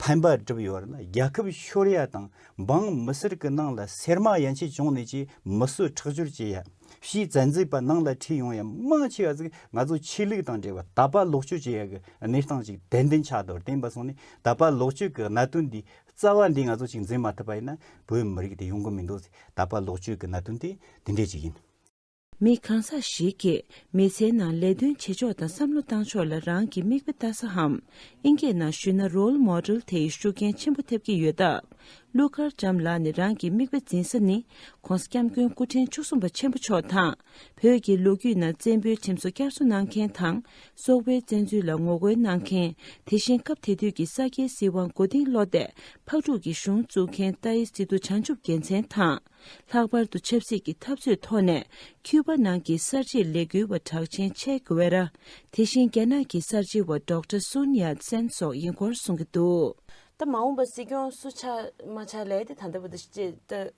ཕན་པ་སྒྲུབ་ཡོད་ར་ན་རྒྱལ་ཁབ་ཤོར་ཡས་དང་འབངས་མི་སེར་གྱི་ནང་ལ་སེར་མ་ཡན་ཆད་བྱུང་ནས་ཀྱི་མི་གསོད་ཁྲག་སྦྱོར་བྱེད་ཡས་ཕྱིའི་བཙན་འཛུལ་པ་ནང་ལ་ཁྲིད་ཡོང་ཡས་མང་ཆེ་བ་ཟིག་ང་ཚོ་ཆོས་ལུགས་དང་འབྲེལ་བ་དད་པ་ལོག་སྤྱོད་བྱེད་ཡས་གྱི་གནས་སྟངས་ཅིག་དད་འདུན་ཆགས་འདོར་བསྟན་པ་སོང་ནས་དད་པ་ལོག་སྤྱོད་གྱི་གནད་དོན་འདི་རྩ་བ་འདི་ང་ཚོ་གཅིག་འཛིན་མ་ཐུབ་པ་ཡིན་ན་བོད་མི་རིགས་དེ་ཡོང་གི་མི་འདུག་ད་བར་ལོག་སྤྱོད་ཀྱི་གནའ་དོན་དེ་འདི་འདྲས་ཅིག་ཡིན། མི་གང་ཟག་ཞིག་གིས་མི་ཚེའི་ནང་ལས་དོན་བྱེད་ཕྱོགས་དང་བསམ་བློ་བཏང་ཕྱོགས་ལ་རང་གི་མིག་དཔེ་ལྟ་ས་འམ་ཨིན་སྐད་ནང་ཞུས་ན Role Model དེའི་ཤུགས་རྐྱེན་ཆེན་པོ་ཐེབས་ཀྱི་ཡོད་སྟབས་ཀླུ་མཁར་བྱམས་ལགས་ནས་རང་གི་མིག་དཔེ་འཛིན་ས་ནི ྋགོང་ས ྋསྐྱབས་མགོན་སྐུ་ཕྲེང་བཅུ་གསུམ་པ་ཆེན་པོ་མཆོག་དང། བོད་ཀྱི་ལོ་རྒྱུས་ནང་བཙན་པོའི་ཁྲིམས་སྲོལ་བསྐྱར་གསོ་གནང་མཁན་དང་སོག་པོའི་བཙན་འཛུལ་ལ་ངོ་རྒོལ་གནང་མཁན་དེ་བཞིན་སྐབས་དེ་དུས་ཀྱི་ས་སྐྱའི་སྲིད་དབང་མགོ་རྟིང་བསློགས་ཏེ་ཕག་ཕྲུག་གི་གཞུང་བཙུགས་མཁན་རྟ་ཡི་སི་ཏུ་བྱང་ཆུབ་རྒྱལ་མཚན་དང། ལྷག་པར་དུ་ཆབ་སྲིད་ཀྱི་འཐབ་རྩོད་ཐོག་ནས་ཁྱུད་པ་ནང་གི་གསར་བརྗེའི་ལས་འགུལ་བ་གྲགས་ཆེན་ཆེ་གྷེ་ཝེ་ར། དེ་བཞིན་རྒྱ་ནག་གི་གསར་བརྗེ་བ་ཟློག་ཏྲ་སུན་ཡཱ་ཙེན་སོགས་ཡིན་སྐོར་གསུང་གི་འདུག། ད་མ་འོངས་པ་སྲིད་སྐྱོང་སུ་ཆགས་མ་ཆགས་ལས་དེ་ད་ལྟ་བུ་དང་བཅས་ཏེ།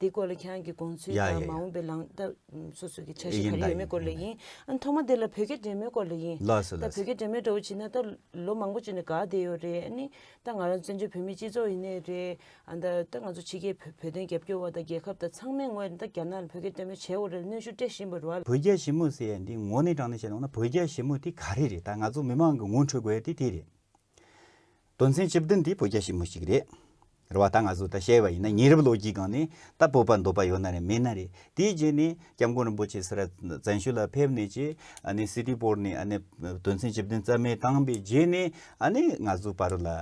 དེའི་སྐོར་ལ་ཁྱེད་རང་གི་དགོངས་ཚུལ་དང་མ་འོངས་པའི་ལངས་སྟབས་སོ་སོ་གི་འཆར་གཞི་ག་རེ་ཡོད་མེད་སྐོར་ལ་ཡིན། ཨ་ནི་ཐོག་མ་དེ་ལ་བོད་སྐད་འདྲེས་མོའི་སྐོར་ལ་ཡིན། ད་བོད་སྐད་འདྲེས་མོའི་འདྲ་བོ་བྱེད་ན་ད་ལོ་མང་པོ་བྱས་ནས་དགའ་བསྡད་ཡོད་རེད་ཨ་ནི། ད་ང་རང་བཙན་བྱོལ་བོད་མིའི་སྤྱི་ཚོགས་ཡིན་ནི་རེད། ཨ་ད་ད་ང་ཚོ་ཕྱི་རྒྱལ་བོད་བོད་དོན་རྒྱབ་སྐྱོར་བ་དང་རྒྱལ་ཁབ་དང་ཚང་མའི་ངོས་ནས་ད་རྒྱ་ནག་ལ་བོད་སྐད་འདྲེས་མོ་བྱེད་འོ་རེད་གནོན་ཤུགས་སྤྲད་བཞིན་པ་རེད། བོད་རྒྱ་ཞི་མོ་ཟེར་ཡ་འདི་ངོ་ནས་དྲང་གནས་བཤད་ལོང་ན་བོད་རྒྱ་ཞི་མོ་དེ་ག་རེ་རེད་ད་ང་ཚོ་མི་མང་གི་ངོ་འཕྲོད་དགོས་ཡ་དེ་དེ་རེད། དོན་ཚན་བཅུ་བདུན་དེ་བོད་རྒྱ་ཞི་མོལ་ཞིག་རེད། རེད་བ་ད་ང་ཚོས་ད་བཤད་པ་ཡིན་ན་ཉེ་རབས་ལོ་རྒྱུས་སྒང་ནས་ད་བོད་པ་འདོད་པ་ཡོད་ན་རེད་མེད་ན་རེད་དེའི་རྗེས་ནས་སྐྱབས་མགོན་རིན་པོ་ཆེ་སེ་ར་བཙན་ཤོད་ལ་ཕེབས་ནས་ཀྱི་ཨ་ནི་སི་ཏི་པོར་ནས་ཨ་ནི་དོན་ཚན་བཅུ་བདུན་རྩ་མེད་བཏང་པའི་རྗེས་ནས་ཨ་ནི་ང་ཚོ་བར་ལ་ཨ་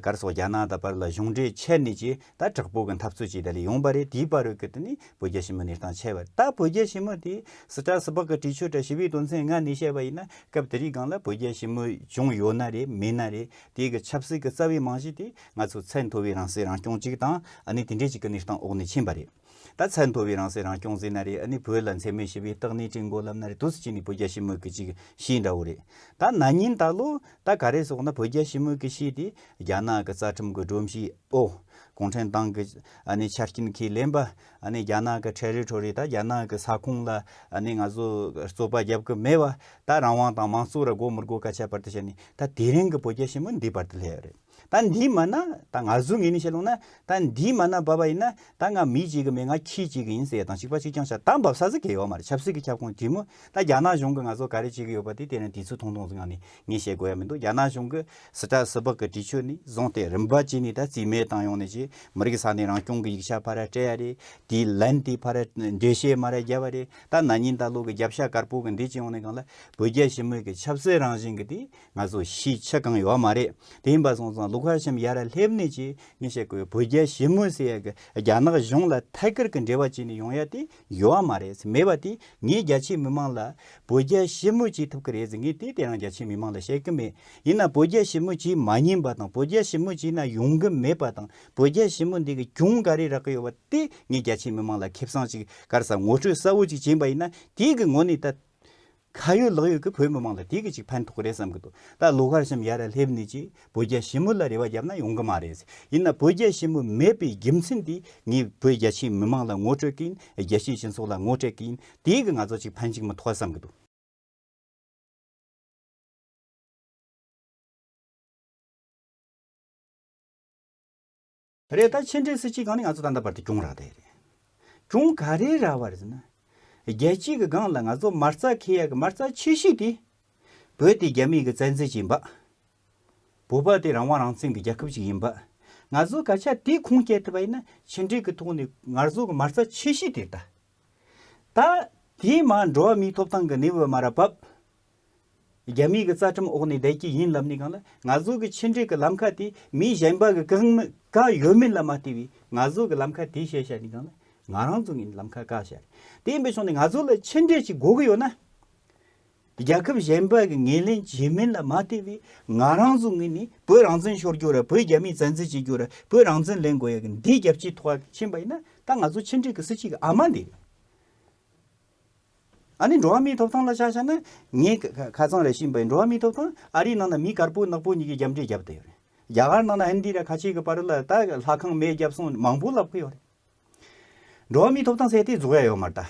དཀར་སོགས་རྒྱ་ནག་དང་བར་ལ་གཞུང་འབྲེལ་ཆད་ནས་ཀྱི་ད་དྲག་པོ་གི་འཐབ་རྩོད་ཅིག་ད་ལས་ཡོང་པ་རེད་དེའི་བར་རོལ་གི་ཏུ་ནི་བོད་རྒྱ་ཞི་མོལ་གནས་སྟངས་ཆད་པ་རེད་ད་བོད་རྒྱ་ཞི་མོལ་དེ་སི་ཏྲ་སི་པག་གི་དྲི་ཆུ་འདྲ་ཞི་བའི་དོན་ཚན་ལྔ་ནས་བཤད་པ་ཡིན་ན་སྐབས་དེ་རིགས་སྒང་ལ་བོད་རྒྱ་ཞི་མོལ་བྱུང་ཡོད་ན་རེད་མེད་ན་རེད་དེ་གི་ཆབ་སྲིད་གི་རྩ་བའི་རྨང་གཞི་དེ་ང་ཚོ་ཚད་མཐོ་བའི་རང་སྲིད་རང་སྐྱོང་ཅིག་དང་ཨ་ནི་དེ་འདྲའི་ཅིག་གི་གནས་སྟངས་འོག་ནས་ཕྱིན་པ་རེད་ད་ཚད་མཐོ་བའི་རང་སྲིད་རང་སྐྱོང་ཟེར་ན་རེད་ཨ་ནི་བོད་ལ་འཚེ་མེད་ཞི་བའི་རྟགས་གནས་བཀྲིན་འགོ་ལབ་ན་རེད་དུས་སུ་ཅིག་ནས་བོད་རྒྱ་ཞི་མོལ་གི་ཅིག་གཞི་འདྲ་བོ་རེད་ད་ན་ཉིན་ད་ལོ་ད་ག་རེ་སོགས་ན་བོད་རྒྱ་ཞི་མོལ་གི་གཞི་དེ་རྒྱ་ནག་གི་རྩ་ཁྲིམས་གི་སྒྲོམ་གཞི་ཨོ། གུང་ཁྲན་ཏང་གི་ཆ་རྐྱེན་ཁས་ལེན་པ། རྒྱ་ནག་གི་ཁྲལ་རིགས་ཁྲོལ་རིགས་དག་རྒྱ་ནག་གི་ས་ཁོངས་ལ་ང་ཚོས་རྩོད་པ་བརྒྱབ་ཀྱི་མེད་པ། ད་རང་དབང་དང་མང་གཙོ་ར་དགོས་མི་དགོས་ཀ་ཁྱད་པར་དུ་བྱས་ནས་ད་དེ་རིང་གི་བོད་རྒྱ་ཞི་མོལ་འདིའི་བར་དུ་སླེབས་ཡོད་རེད། ད་འདིའི་མ་ན་ད་ང་ཚོས་ངེས་ནས་བཤད་ལོང་ན་ད་འདིའི་མ་ན་འབབ་པ་ཡིན་ན་ད་ང་མི་གཅིག་གི་མེད་ང་ཁྱི་གཅིག་གི་ཡིན་ཟེར་དང་གཅིག་པ་གཅིག་རྐྱང་བྱ་ད་འབབ་ས་ཟིག་གེ་ཡོད་མ་རེད་ཆབ་སྲིད་ཀྱི་ཁྱབ་ཁོངས་དྲི་མོ་ད་རྒྱ་ནག་གཞུང་གི་ང་ཚོ་ག་རེ་བྱེད་ཀྱི་ཡོད་པ་དེ་དེ་རིང་དུས་ཚོད་ཐུང་ཐུང་ཟིག་ངང་ནས་ངས་བཤད་དགོས་ཡ་མི་འདུག་རྒྱ་ནག་གཞུང་གི་སི་ཏྲ་སི་པག་གི་དྲི་ཆུ་ནི་བཟུང་སྟེ་རིམ་པ་གཅིག་ནས་ད་རྩིས་མེད་བཏང་ཡོང་ནས་ཀྱི་མི་རིགས་ས་གནས་རང་སྐྱོང་གི་ཡིག་ཆ་ཕར་ར་སྤྲད་ཡ་རེད་དེའི་ལན་དེ་ཕར་ར་འགྲེལ་བཤད་མ་ར་རྒྱབ་པ་རེད་ད་ན་ཉིན་ད་ལོ་གི་རྒྱབ་ཤ་དཀར་པོ་གི་འདི་སྤྱི་ཡོངས་ནས་གང་ལ་བོད་རྒྱ་ཞི་མོལ་གི་ཆབ་སྲིད་རང་བཞིན་གི་དེ་ང་ཚོ་གཞིས་ཆགས་གང་ཡོད་མ་རེད་དེ་ཡིན་པ་སོང་ཙང་ལུག་ཧར་ཤམ་ཡ་ར་སླེབས་ནས་ཀྱི་ངས་བཤད་དགོས་ཡ་བོད་རྒྱ་ཞི་མོལ་ཟེར་ཡ་གི་རྒྱ་ནག་གཞུང་ལ་ཐད་ཀར་གི་འབྲེལ་བ་གཅིག་ནས་ཡོང་ཡ་དེ་ཡོད་ཨ་མ་རེད་མེད་པ་དེ་ངས་རྒྱ་ཆེའི་མི་མང་ལ། བོད་རྒྱ་ཞི་མོལ་བྱེད་ཐུབ་ཀྱི་རེད་ངས་དེ་དེ་རང་རྒྱ་ཆེའི་མི་མང་ལ་བཤད་ཀྱི་མེད། ཡིན་ནམ་བོད་རྒྱ་ཞི་མོལ་བྱེད་མ་ཉན་པ་དང་བོད་རྒྱ་ཞི་མོལ་བྱས་ན་ཡོང་གི་མེད་པ་དང་བོད་རྒྱ་ཞི་མོལ་འདི་གི་གྱོང་ག་རེ་རག་གི་ཡོད་པ་དེ་ངས་རྒྱ་ཆེའི་མི་མང་ལ་ཁེབས་སངས་ཅིག་གར་ས་ངོ་སྤྲོད་གསལ་བོ་ཅིག་བྱེད་པ་ཡིན་ན་དེའི་གི་ངོ་ནས་ད། ཁ་ཡོད་ལག་ཡོད་ཀྱི་བོད་མི་མང་ལ་དེ་གི་ཅིག་ཕན་ཐོག་གི་རེད་བསམ་གི་འདུག་ད་ལོ་ཁར་ཤམ་ཡ་ར་ལྷེབ་ནི་ཅིག་བོད་རྒྱ་ཞི་མོ་ལ་རེ་བ་རྒྱབ་ན་ཡོང་གི་མ་རེད་ཡིན་ན་བོད་རྒྱ་ཞི་མོ་མེད་པའི་རྒྱུ་མཚན་དེ་ངས་བོད་རྒྱ་ཆེའི་མི་མང་ལ་ངོ་སྤྲོད་གིན་རྒྱ་ཆེའི་སྤྱི་ཚོགས་ལ་ངོ་སྤྲད་གིན་དེ་གི་ང་ཚོ་ཅིག་ཕན་ཅིག་མི་ཐོག་བསམ་གི་འདུག། རེད་ད་ཕྱི་འབྲེལ་སྲིད་སྤྱི་སྒང་ནས་ང་ཚོ་ད་ལྟ་བར་དུ་གྱོང་རག་བསྡད་རེད། གྱོང་ག་རེ་རག་བ་རེད་ཟེར་ན། རྒྱལ་སྤྱི་གི་སྒང་ལ་ང་ཚོ་མ་རྩ་ཁེ་ཡག་གི་མ་རྩ་ཆེ་ཤོས་དེ། བོད་དེ་རྒྱ་མི་གི་བཙན་འཛུལ་གྱིས་འབགས། བོད་པ་དེ་རང་དབང་རང་བཙན་གི་རྒྱལ་ཁབ་ཅིག་ཡིན་འབགས། ང་ཚོ་ག་ཆ་དེ་ཁུངས་སྐྱེལ་ཐུབ་པ་ཡིན་ན་ཕྱི་འབྲེལ་གི་ཐོག་ནས་ངར་ཚོ་གི་མ་རྩ་ཆེ་ཤོས་དེ་རེད་ད། ད་དེའི་མ་འགྲོ་བ་མིའི་ཐོབ་ཐང་གི་གནས་བབ་མ་རག་བབས། རྒྱ་མིའི་རྩ་ཁྲིམས་འོག་ནས་བསྡད་ཀྱི་ཡིན་ལབ་ནས་གང་ལ་ང་ཚོ་གི་ཕྱི་འབྲེལ་གྱི་ལམ་ཁ་དེ་མི་གཞན་པ་གི་གང་གང་ཡོད་མེད་ལ་མ་ལྟོས་པའི་ང་ཚོ་གི་ལམ་ཁ་དེ་བཤད་བཤད་ནས་གང་ལ་ང་རང་ཚོ་གི་ལམ་ཁ་བཀག་བཤད་རེད་དེ་ཡིན་པའི་ཕྱོགས་ནས་ང་ཚོ་ལ་ཕྱི་འབྲེལ་གྱི་སྒོ་གི་ཡོད་ན། རྒྱལ་ཁབ་གཞན་པ་གི་ངེས་ལེན་བྱས་མིན་ལ་མ་ལྟོས་པའི་ང་རང་ཚོ་གི་ནི་བོད་རང་བཙན་ཤོར་རྒྱུ་ར་བོད་རྒྱ་མིའི་བཙན་འཛུལ་བྱེད་རྒྱུ་ར་བོད་རང་བཙན་ལེན་དགོས་ཡ་གི་འདི་རྒྱབ་ཀྱི་ཐོག་ཕྱིན་པ་ཡིན་ན་ད་ང་ཚོ་ཕྱི་འབྲེལ་གྱི་སྲིད་སྤྱི་གི་ཨ་མ་འདི་རེད། ཨ་ནི་འགྲོ་བ་མིའི་ཐོབ་ཐང་ལ་ཆ་བཞག་ན། ངས་ཁ་ཚང་རེ་བྱིན་པ་ཡིན་འགྲོ་བ་མིའི་ཐོབ་ཐང་ཨ་རིའི་ནང་ན་མི་དཀར་པོ་ནག་པོ་གཉིས་ཀྱི་རྒྱབ་འདྲེས་རྒྱབ་བསྡད་ཡོད་རེད། རྒྱ་གར་ནང་ན་ཧིན་དྷི་ར་ཁ་ཆེ་གི་བར་ལ་ད་ལྷ་ཁང་མེད་རྒྱབ་སོང་མང་པོ་ལབ་ཀི་ཡོད་རེད། འགྲོ་བ་མིའི་ཐོབ་ཐང་ཟེར་དེ་རྫོགས་ཡ་ཡོད་མ་རེད་ད།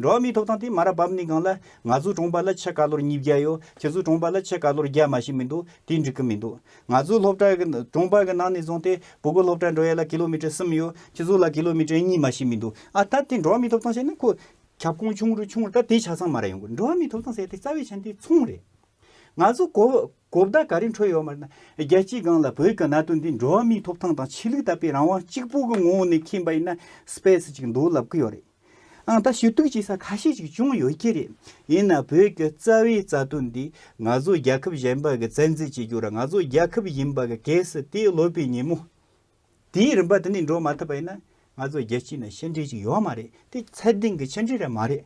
འགྲོ་བ་མིའི་ཐོབ་ཐང་དེ་མ་ར་བབ་ནི་གང་ལ་ང་ཚོ་གྲོངས་པ་ལ་ཕྱེད་ཀ་ལོར་ཉིས་བརྒྱ་ཡོད་ཁྱེད་ཚོ་གྲོངས་པ་ལ་ཕྱེད་ཀ་ལོར་བརྒྱ་མ་ཞིག་མི་འདུག་དེ་འགྲིག་གི་མི་འདུག་ང་ཚོའི་སློབ་གྲྭའི་གྲོང་པ་གི་ནང་ནས་བཟུང་སྟེ་བུ་གུ་སློབ་གྲྭར་འགྲོ་ཡས་ལ་ཀི་ལོ་མི་ཀྲེར་གསུམ་ཡོད་ཁྱི་ཟུག་ལ་ཀི་ལོ་མི་ཀྲེར་གཉིས་མ་ཞིག་མི་འདུག་ཨ་ད་དེ་འགྲོ་མི་ཐུབ་སྟངས་བྱས་ན་ཁོ་ཁྱབ་ཁོངས་ཆུང་རུ་ཆུང་རུ་ད་དེ་ཆ་ཚང་མ་ར་ཡོང་དགོས་འགྲོ་མི་ཐུབ་སྟངས་བྱས་ཏེ་རྩ་བའི་ཆ་འདི་མཚུངས་རེད། ང་ཚོ་གོ་གོ་བརྡ་ག་རེ་འཕྲོད་ཡོད་མར་ན་རྒྱལ་སྤྱིའི་སྒང་ལ་བོད་ཀྱི་གནའ་དོན་འདི་འགྲོ་མི་ཐུབ་སྟངས་དང་ཆོས་ལུགས་དད་པའི་རང་དབང་གཅིག་པུ་གི་ངོ་བོ་ནས་ཁེངས་པ་ཡིན་ན་སྤེས་ཅིག་འདུག་ལབ་ཀི་ཡོད་རེད། ཨང་ད་ཞུ་གཏུག་བྱེད་ས་ཁ་ཤས་ཅིག་བྱུང་ཡོད་ཀྱི་རེད། ཡིན་ནའང་བོད་ཀྱི་རྩ་བའི་རྩ་དོན་འདི་ང་ཚོ་རྒྱལ་ཁབ་གཞན་པ་གི་བཙན་འཛིན་བྱེད་རྒྱུར་ང་ཚོ་རྒྱལ་ཁབ་ཡིན་པ་གི་གེགས་སུ་དེའི་ལོ་པའི་ཉིན་མོ་དེའི་རིམ་པ་དེ་ནས་འགྲོ་མ་ཐུབ་པ་ཡིན་ན་ང་ཚོ་རྒྱལ་སྤྱི་ནང་ཕྱི་འབྲེལ་ཅིག་ཡོད་མ་རེད་དེ་ཚད་ལྡན་གྱི་ཕྱི་འབྲེལ་རེད་མ་རེད།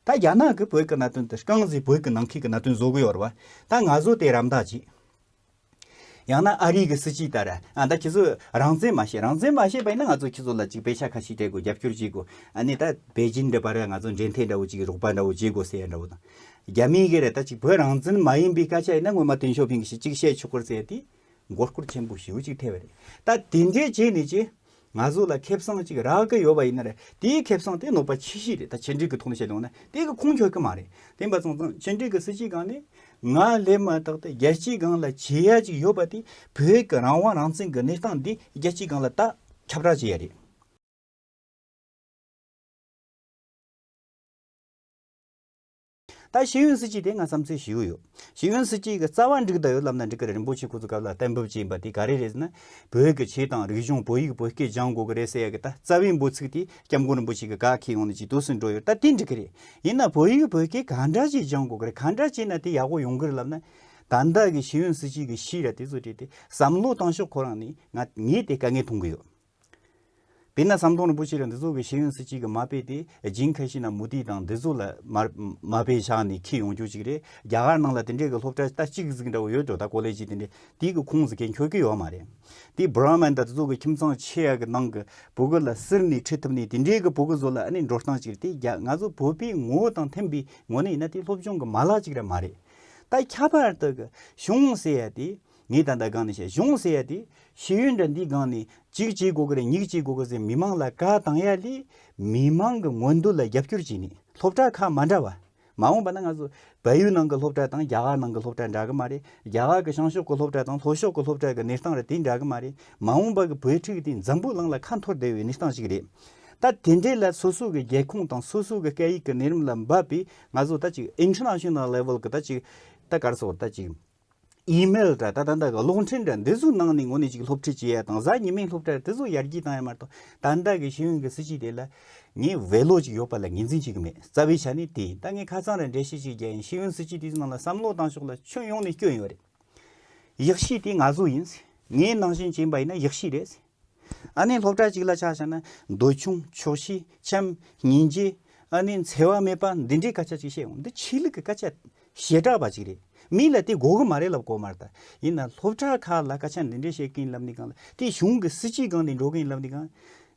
ད་རྒྱ་ནག་གི་བོད་ཀྱི་གནད་དོན་དེ་རྐང་བཟི་བོད་ཀྱི་ནང་ཁུལ་གྱི་གནད་དོན་བཟོ་གི་ཡོད་རེད་བ། ད་ང་ཚོ་དེ་རམ་འདག་བྱེད། ཡང་ན་ཨ་རིའི་གི་སྲིད་སྤྱི་ལྟར་ཨ་ད་ཁྱེད་ཚོ་རང་བཙན་མ་ཤེས་རང་བཙན་མ་ཤེས་པ་ཡིན་ན་ང་ཚོ་ཁྱེད་ཚོ་ལ་ཅིག་བེ་ཤ་ཁ་ཤིག་སྤྲད་དགོས་རྒྱབ་སྐྱོར་བྱེད་དགོས་ཨ་ནི་ད་བེ་ཇིན་འདྲ་པར་ང་ཚོ་འབྲེལ་ཐད་འདྲ་བོ་ཅིག་རོགས་པ་འདྲ་བོ་བྱེད་དགོས་ཟེར་ཡ་འདྲ་བོ་དང། རྒྱ་མིའི་གི་རེད་ད་ཅིག་བོད་རང་བཙན་མ་ཡིན་པའི་སྐད་ཆ་ཡིན་ན་སྔོན་མ་ཏིན་ཞོ་ཕིང་གི་ཞིག་ཅིག་བཤད་ཆོག་གུར་ཟེར་དེ་མགོ་སྐོར་ཆེན་པོ་ཞེའུ་ཅིག་ཐེ་བ་རེད་ད་དེ་འདྲའི་བྱེད་ནི་ཅི། ང་ཚོ་ལ་ཁེབས་སང་གཅིག་རག་གི་ཡོད་པ་ཡིན་ན་རེད་དེའི་ཁེབས་སང་དེ་ནོར་པ་ཆེ་ཤོས་རེད་ད་བྱེད་འབྲེལ་གི་ཐོག་ནས་བཤད་དོན་ན་དེ་གི་ཁུངས་འཁྱོལ་གི་མ་རེད་དེ་འབའ་ཚང་ཚང་བྱེད་འབྲེལ་གི་སྲིད་སྤྱི་སྒང་ནས་ང་སླེབས་མ་ཐག་ཏུ་རྒྱལ་སྤྱི་སྒང་ལ་བྱེད་ཡ་གཅིག་ཡོད་པ་དེ་བོད་གི་རང་དབང་རང་བཙན་གི་གནས་སྟངས་འདི་རྒྱལ་སྤྱི་སྒང་ལ་ད་ཁྱབ་བསྒྲགས་བྱེད་ཡ་རེད། ད་ཞིག་ཡོན་སྲིད་སྤྱི་དེ་ང་བསམ་ཚུལ་ཞིག་ཡོད། ཞིག་ཡོན་སྲིད་སྤྱི་གི་རྩ་བ་འགྲིག་ད་ཡོད་ལབ་ན་འགྲིག་གི་རེད་རིན་པོ་ཆེ་ཁོ་ཚོ་སྐབས་ལ་གཏན་འབེབས་བྱས་ཡིན་པ་དེ་ག་རེ་རེད་ཟེར་ན། བོད་ཀྱི་ཆོས་དང་རིག་གཞུང་བོད་ཡིག་བོད་སྐད་སྦྱང་དགོས་ཀྱི་རེད་ཟེར་ཡ་གི་ད་རྩ་བའི་འབོད་ཚིག་དེ་སྐྱབས་མགོན་རིན་པོ་ཆེ་གི་དགའ་ཁེ་ཡོང་ནས་ཇི་ཐུགས་སུ་འགྲོ་ཡོད་ད་དེ་འགྲིག་གི་རེད། ཡིན་ན་བོད་ཡིག་བོད་སྐད་གང་འདྲ་བྱས་སྦྱང་དགོས་ཀྱི་རེད་གང་འདྲ་བྱས་ན་དེ་ཡག་པོ་ཡོང་གི་རེད་ལབ་ན། ད་ལྟ་གི་ཞིག་ཡོན་སྲིད་སྤྱི་གི་ཤི་ར་དེ་ཚོ་བྲིས་ཏེ་བསམ་བློ་བཏང་ཤོག་ཁོ་རང་ནི་ང་ངས་དེ་དཀའ་ངལ་མཐོང་གི་ཡོད། དཔེར་ན་ཟམ་གདོང་རིན་པོ་ཆེ་ལ་འདི་ཚོ་གི་ཤེས་ཡོན་སུ་གཅིག་གི་མ་དཔེ་སྟེ་སྦྱིན་ཁ་ཤི་ན་མུ་ཏིག་དང་འདི་ཚོ་ལ་མ་དཔེ་ཆགས་ནས་ཁྱི་ཡོང་རྒྱུ་གཅིག་རེད་རྒྱ་གར་ནང་ལ་དེ་འདྲས་གི་སློབ་གྲ་རྟ་གཅིག་གི་གཟིགས་འདྲ་བོ་ཡོད་འགྲོ་ད་ཀོ་ལེ་ཇི་དེ་འདྲས་དེའི་གི་ཁུངས་སུ་ཁྱེད་འཁྱོལ་གི་ཡོད་མ་རེད་དེ་བྷ་ར་མན་དང་དེ་ཚོ་གི་ཁྱིམ་ཚང་ཆེ་ཡག་གི་ནང་གི་བུ་གུ་ལ་སིར་ནས་ཁྲིད་ཐུབ་ནས་དེ་འདྲས་གི་བུ་གུ་ཚོ་ལ་ཨ་ནི་འགྲོ་སྟངས་གཅིག་རེད་དེ་རྒྱ་ང་ཚོ་བོད་པའི་ངོ་བོ་དང་མཐུན་པའི་ངོ་ནས་ཡིན་ན་དེ་སློབ་སྦྱོང་གི་མ་ལག་གཅིག་རེད་མ་རེད་ད་ཁྱད་པར་དུ་གི་གཞུང་ཟེར་ཡ་དེ་ངས་ད་ལྟ་སྒང་ནས་བཤད་གཞུང་ཟེར་ཡ་དེ་ཤེས་ཡོན་འདྲ་འདི་སྒང་ནས་གཅིག་བྱེད་དགོས་ཀྱི་རེད་གཉིས་བྱེད་དགོས་ཀྱི་ཟེར་མི་མང་ལ་བཀའ་བཏང་ཡ་ལས་མི་མང་གི་མངོན་འདོད་ལ་རྒྱབ་སྐྱོར་བྱེད་ནི་སློབ་གྲྭ་ཁག་མ་འདྲ་བ། མ་འོངས་པ་ན་ང་ཚོ་བལ་ཡུལ་ནང་གི་སློབ་གྲྭ་དང་རྒྱ་གར་ནང་གི་སློབ་གྲྭ་འདྲ་གི་མ་རེད་རྒྱ་གར་གི་ཤང་ཤོག་གི་སློབ་གྲྭ་དང་ལྷོ་ཤོག་གི་སློབ་གྲྭ་གི་གནས་སྟངས་རེ་དེ་འདྲ་གི་མ་རེད་མ་འོངས་པ་གི་བོད་ཕྲུག་དེ་འཛམ་བུ་གླིང་ལ་ཁ་འཐོར་བསྡད་བའི་གནས་སྟངས་ཞིག་རེད། ད་དེ་འདྲས་ལ་སོ་སོ་གི་རྒྱལ་ཁོངས་དང་སོ་སོ་གི་སྐད་ཡིག་གི་གནས་རིམ་ལ་འབབ་པའི་ང་ཚོ་ད་ཅིག International Level གི་ད་ཅིག་ད་ག་རེ་ཟེར་བ་ད་ཅིག་ཨིམེལ་དྲ་ད་ད་འདའ་གི་གློག་འཕྲིན་དྲ་འདི་ཚོའི་ནང་ནས་ངོ་ནས་ཅིག་སློབ་ཁྲིད་བྱེད་ཡ་དང་གཟའ་ཉི་མའི་སློབ་གྲྭར་དེ་ཚོ་ཡར་རྒྱས་བཏང་ཡ་མ་གཏོགས་ད་འདའ་གི་ཤེས་ཡོན་གྱི་སྲིད་སྤྱི་དེ་ལ་ངས་བེད་ལོག་ཅིག་ཡོད་པ་ལ་ངེས་འཛིན་བྱེད་ཀྱི་མེད་རྩ་བའི་ཆ་ནས་དེ་ད་ངས་ཁ་ཚང་རེད་འགྲེལ་བཤད་ཅིག་རྒྱག་ཡིན་ཤེས་ཡོན་སྲིད་སྤྱི་དེ་ཚོའི་ནང་ལ་བསམ་བློ་བཏང་ཕྱོགས་ལ་ཁྱོན་ཡོངས་ནས་སྐྱོན་ཡོད་རེད་ཡག་ཤེས་དེ་ང་ཚོ་ཡིན་ངའི་ནང་བཞིན་བྱེད་པ་ཡིན་ན་ཡག་ཤེས་རེད། ཨ་ནི་སློབ་གྲྭ་གཅིག་ལ་ཆགས་བྱས་ན། འདོད་ཆུང་ཆོག་ཤེས་འཁྱམ་སྙིང་རྗེ། ཨ་ནི་འཚེ་བ་མེད་པ་འདི་འདྲའི་སྐད་ཆ་གཅིག་བཤད་འོང་འདི་ཆོས་ལུགས་ཀྱི་སྐད་ཆ་ཞེ་དྲག་པ་གཅིག་རེད་མི་ལ་དེ་གོ་གི་མ་རེད་ལབ་གོ་མར་ད་ཡིན་ན་སློབ་གྲྭ་ཁག་ལ་སྐད་ཆ་འདི་འདྲའི་བཤད་གིན་ལབ་ནི་གང་ལ་དེ་གཞུང་གི་སྲིད་སྤྱི་གང་དེ་འགྲོ་གིན་ལབ་ནི་གང།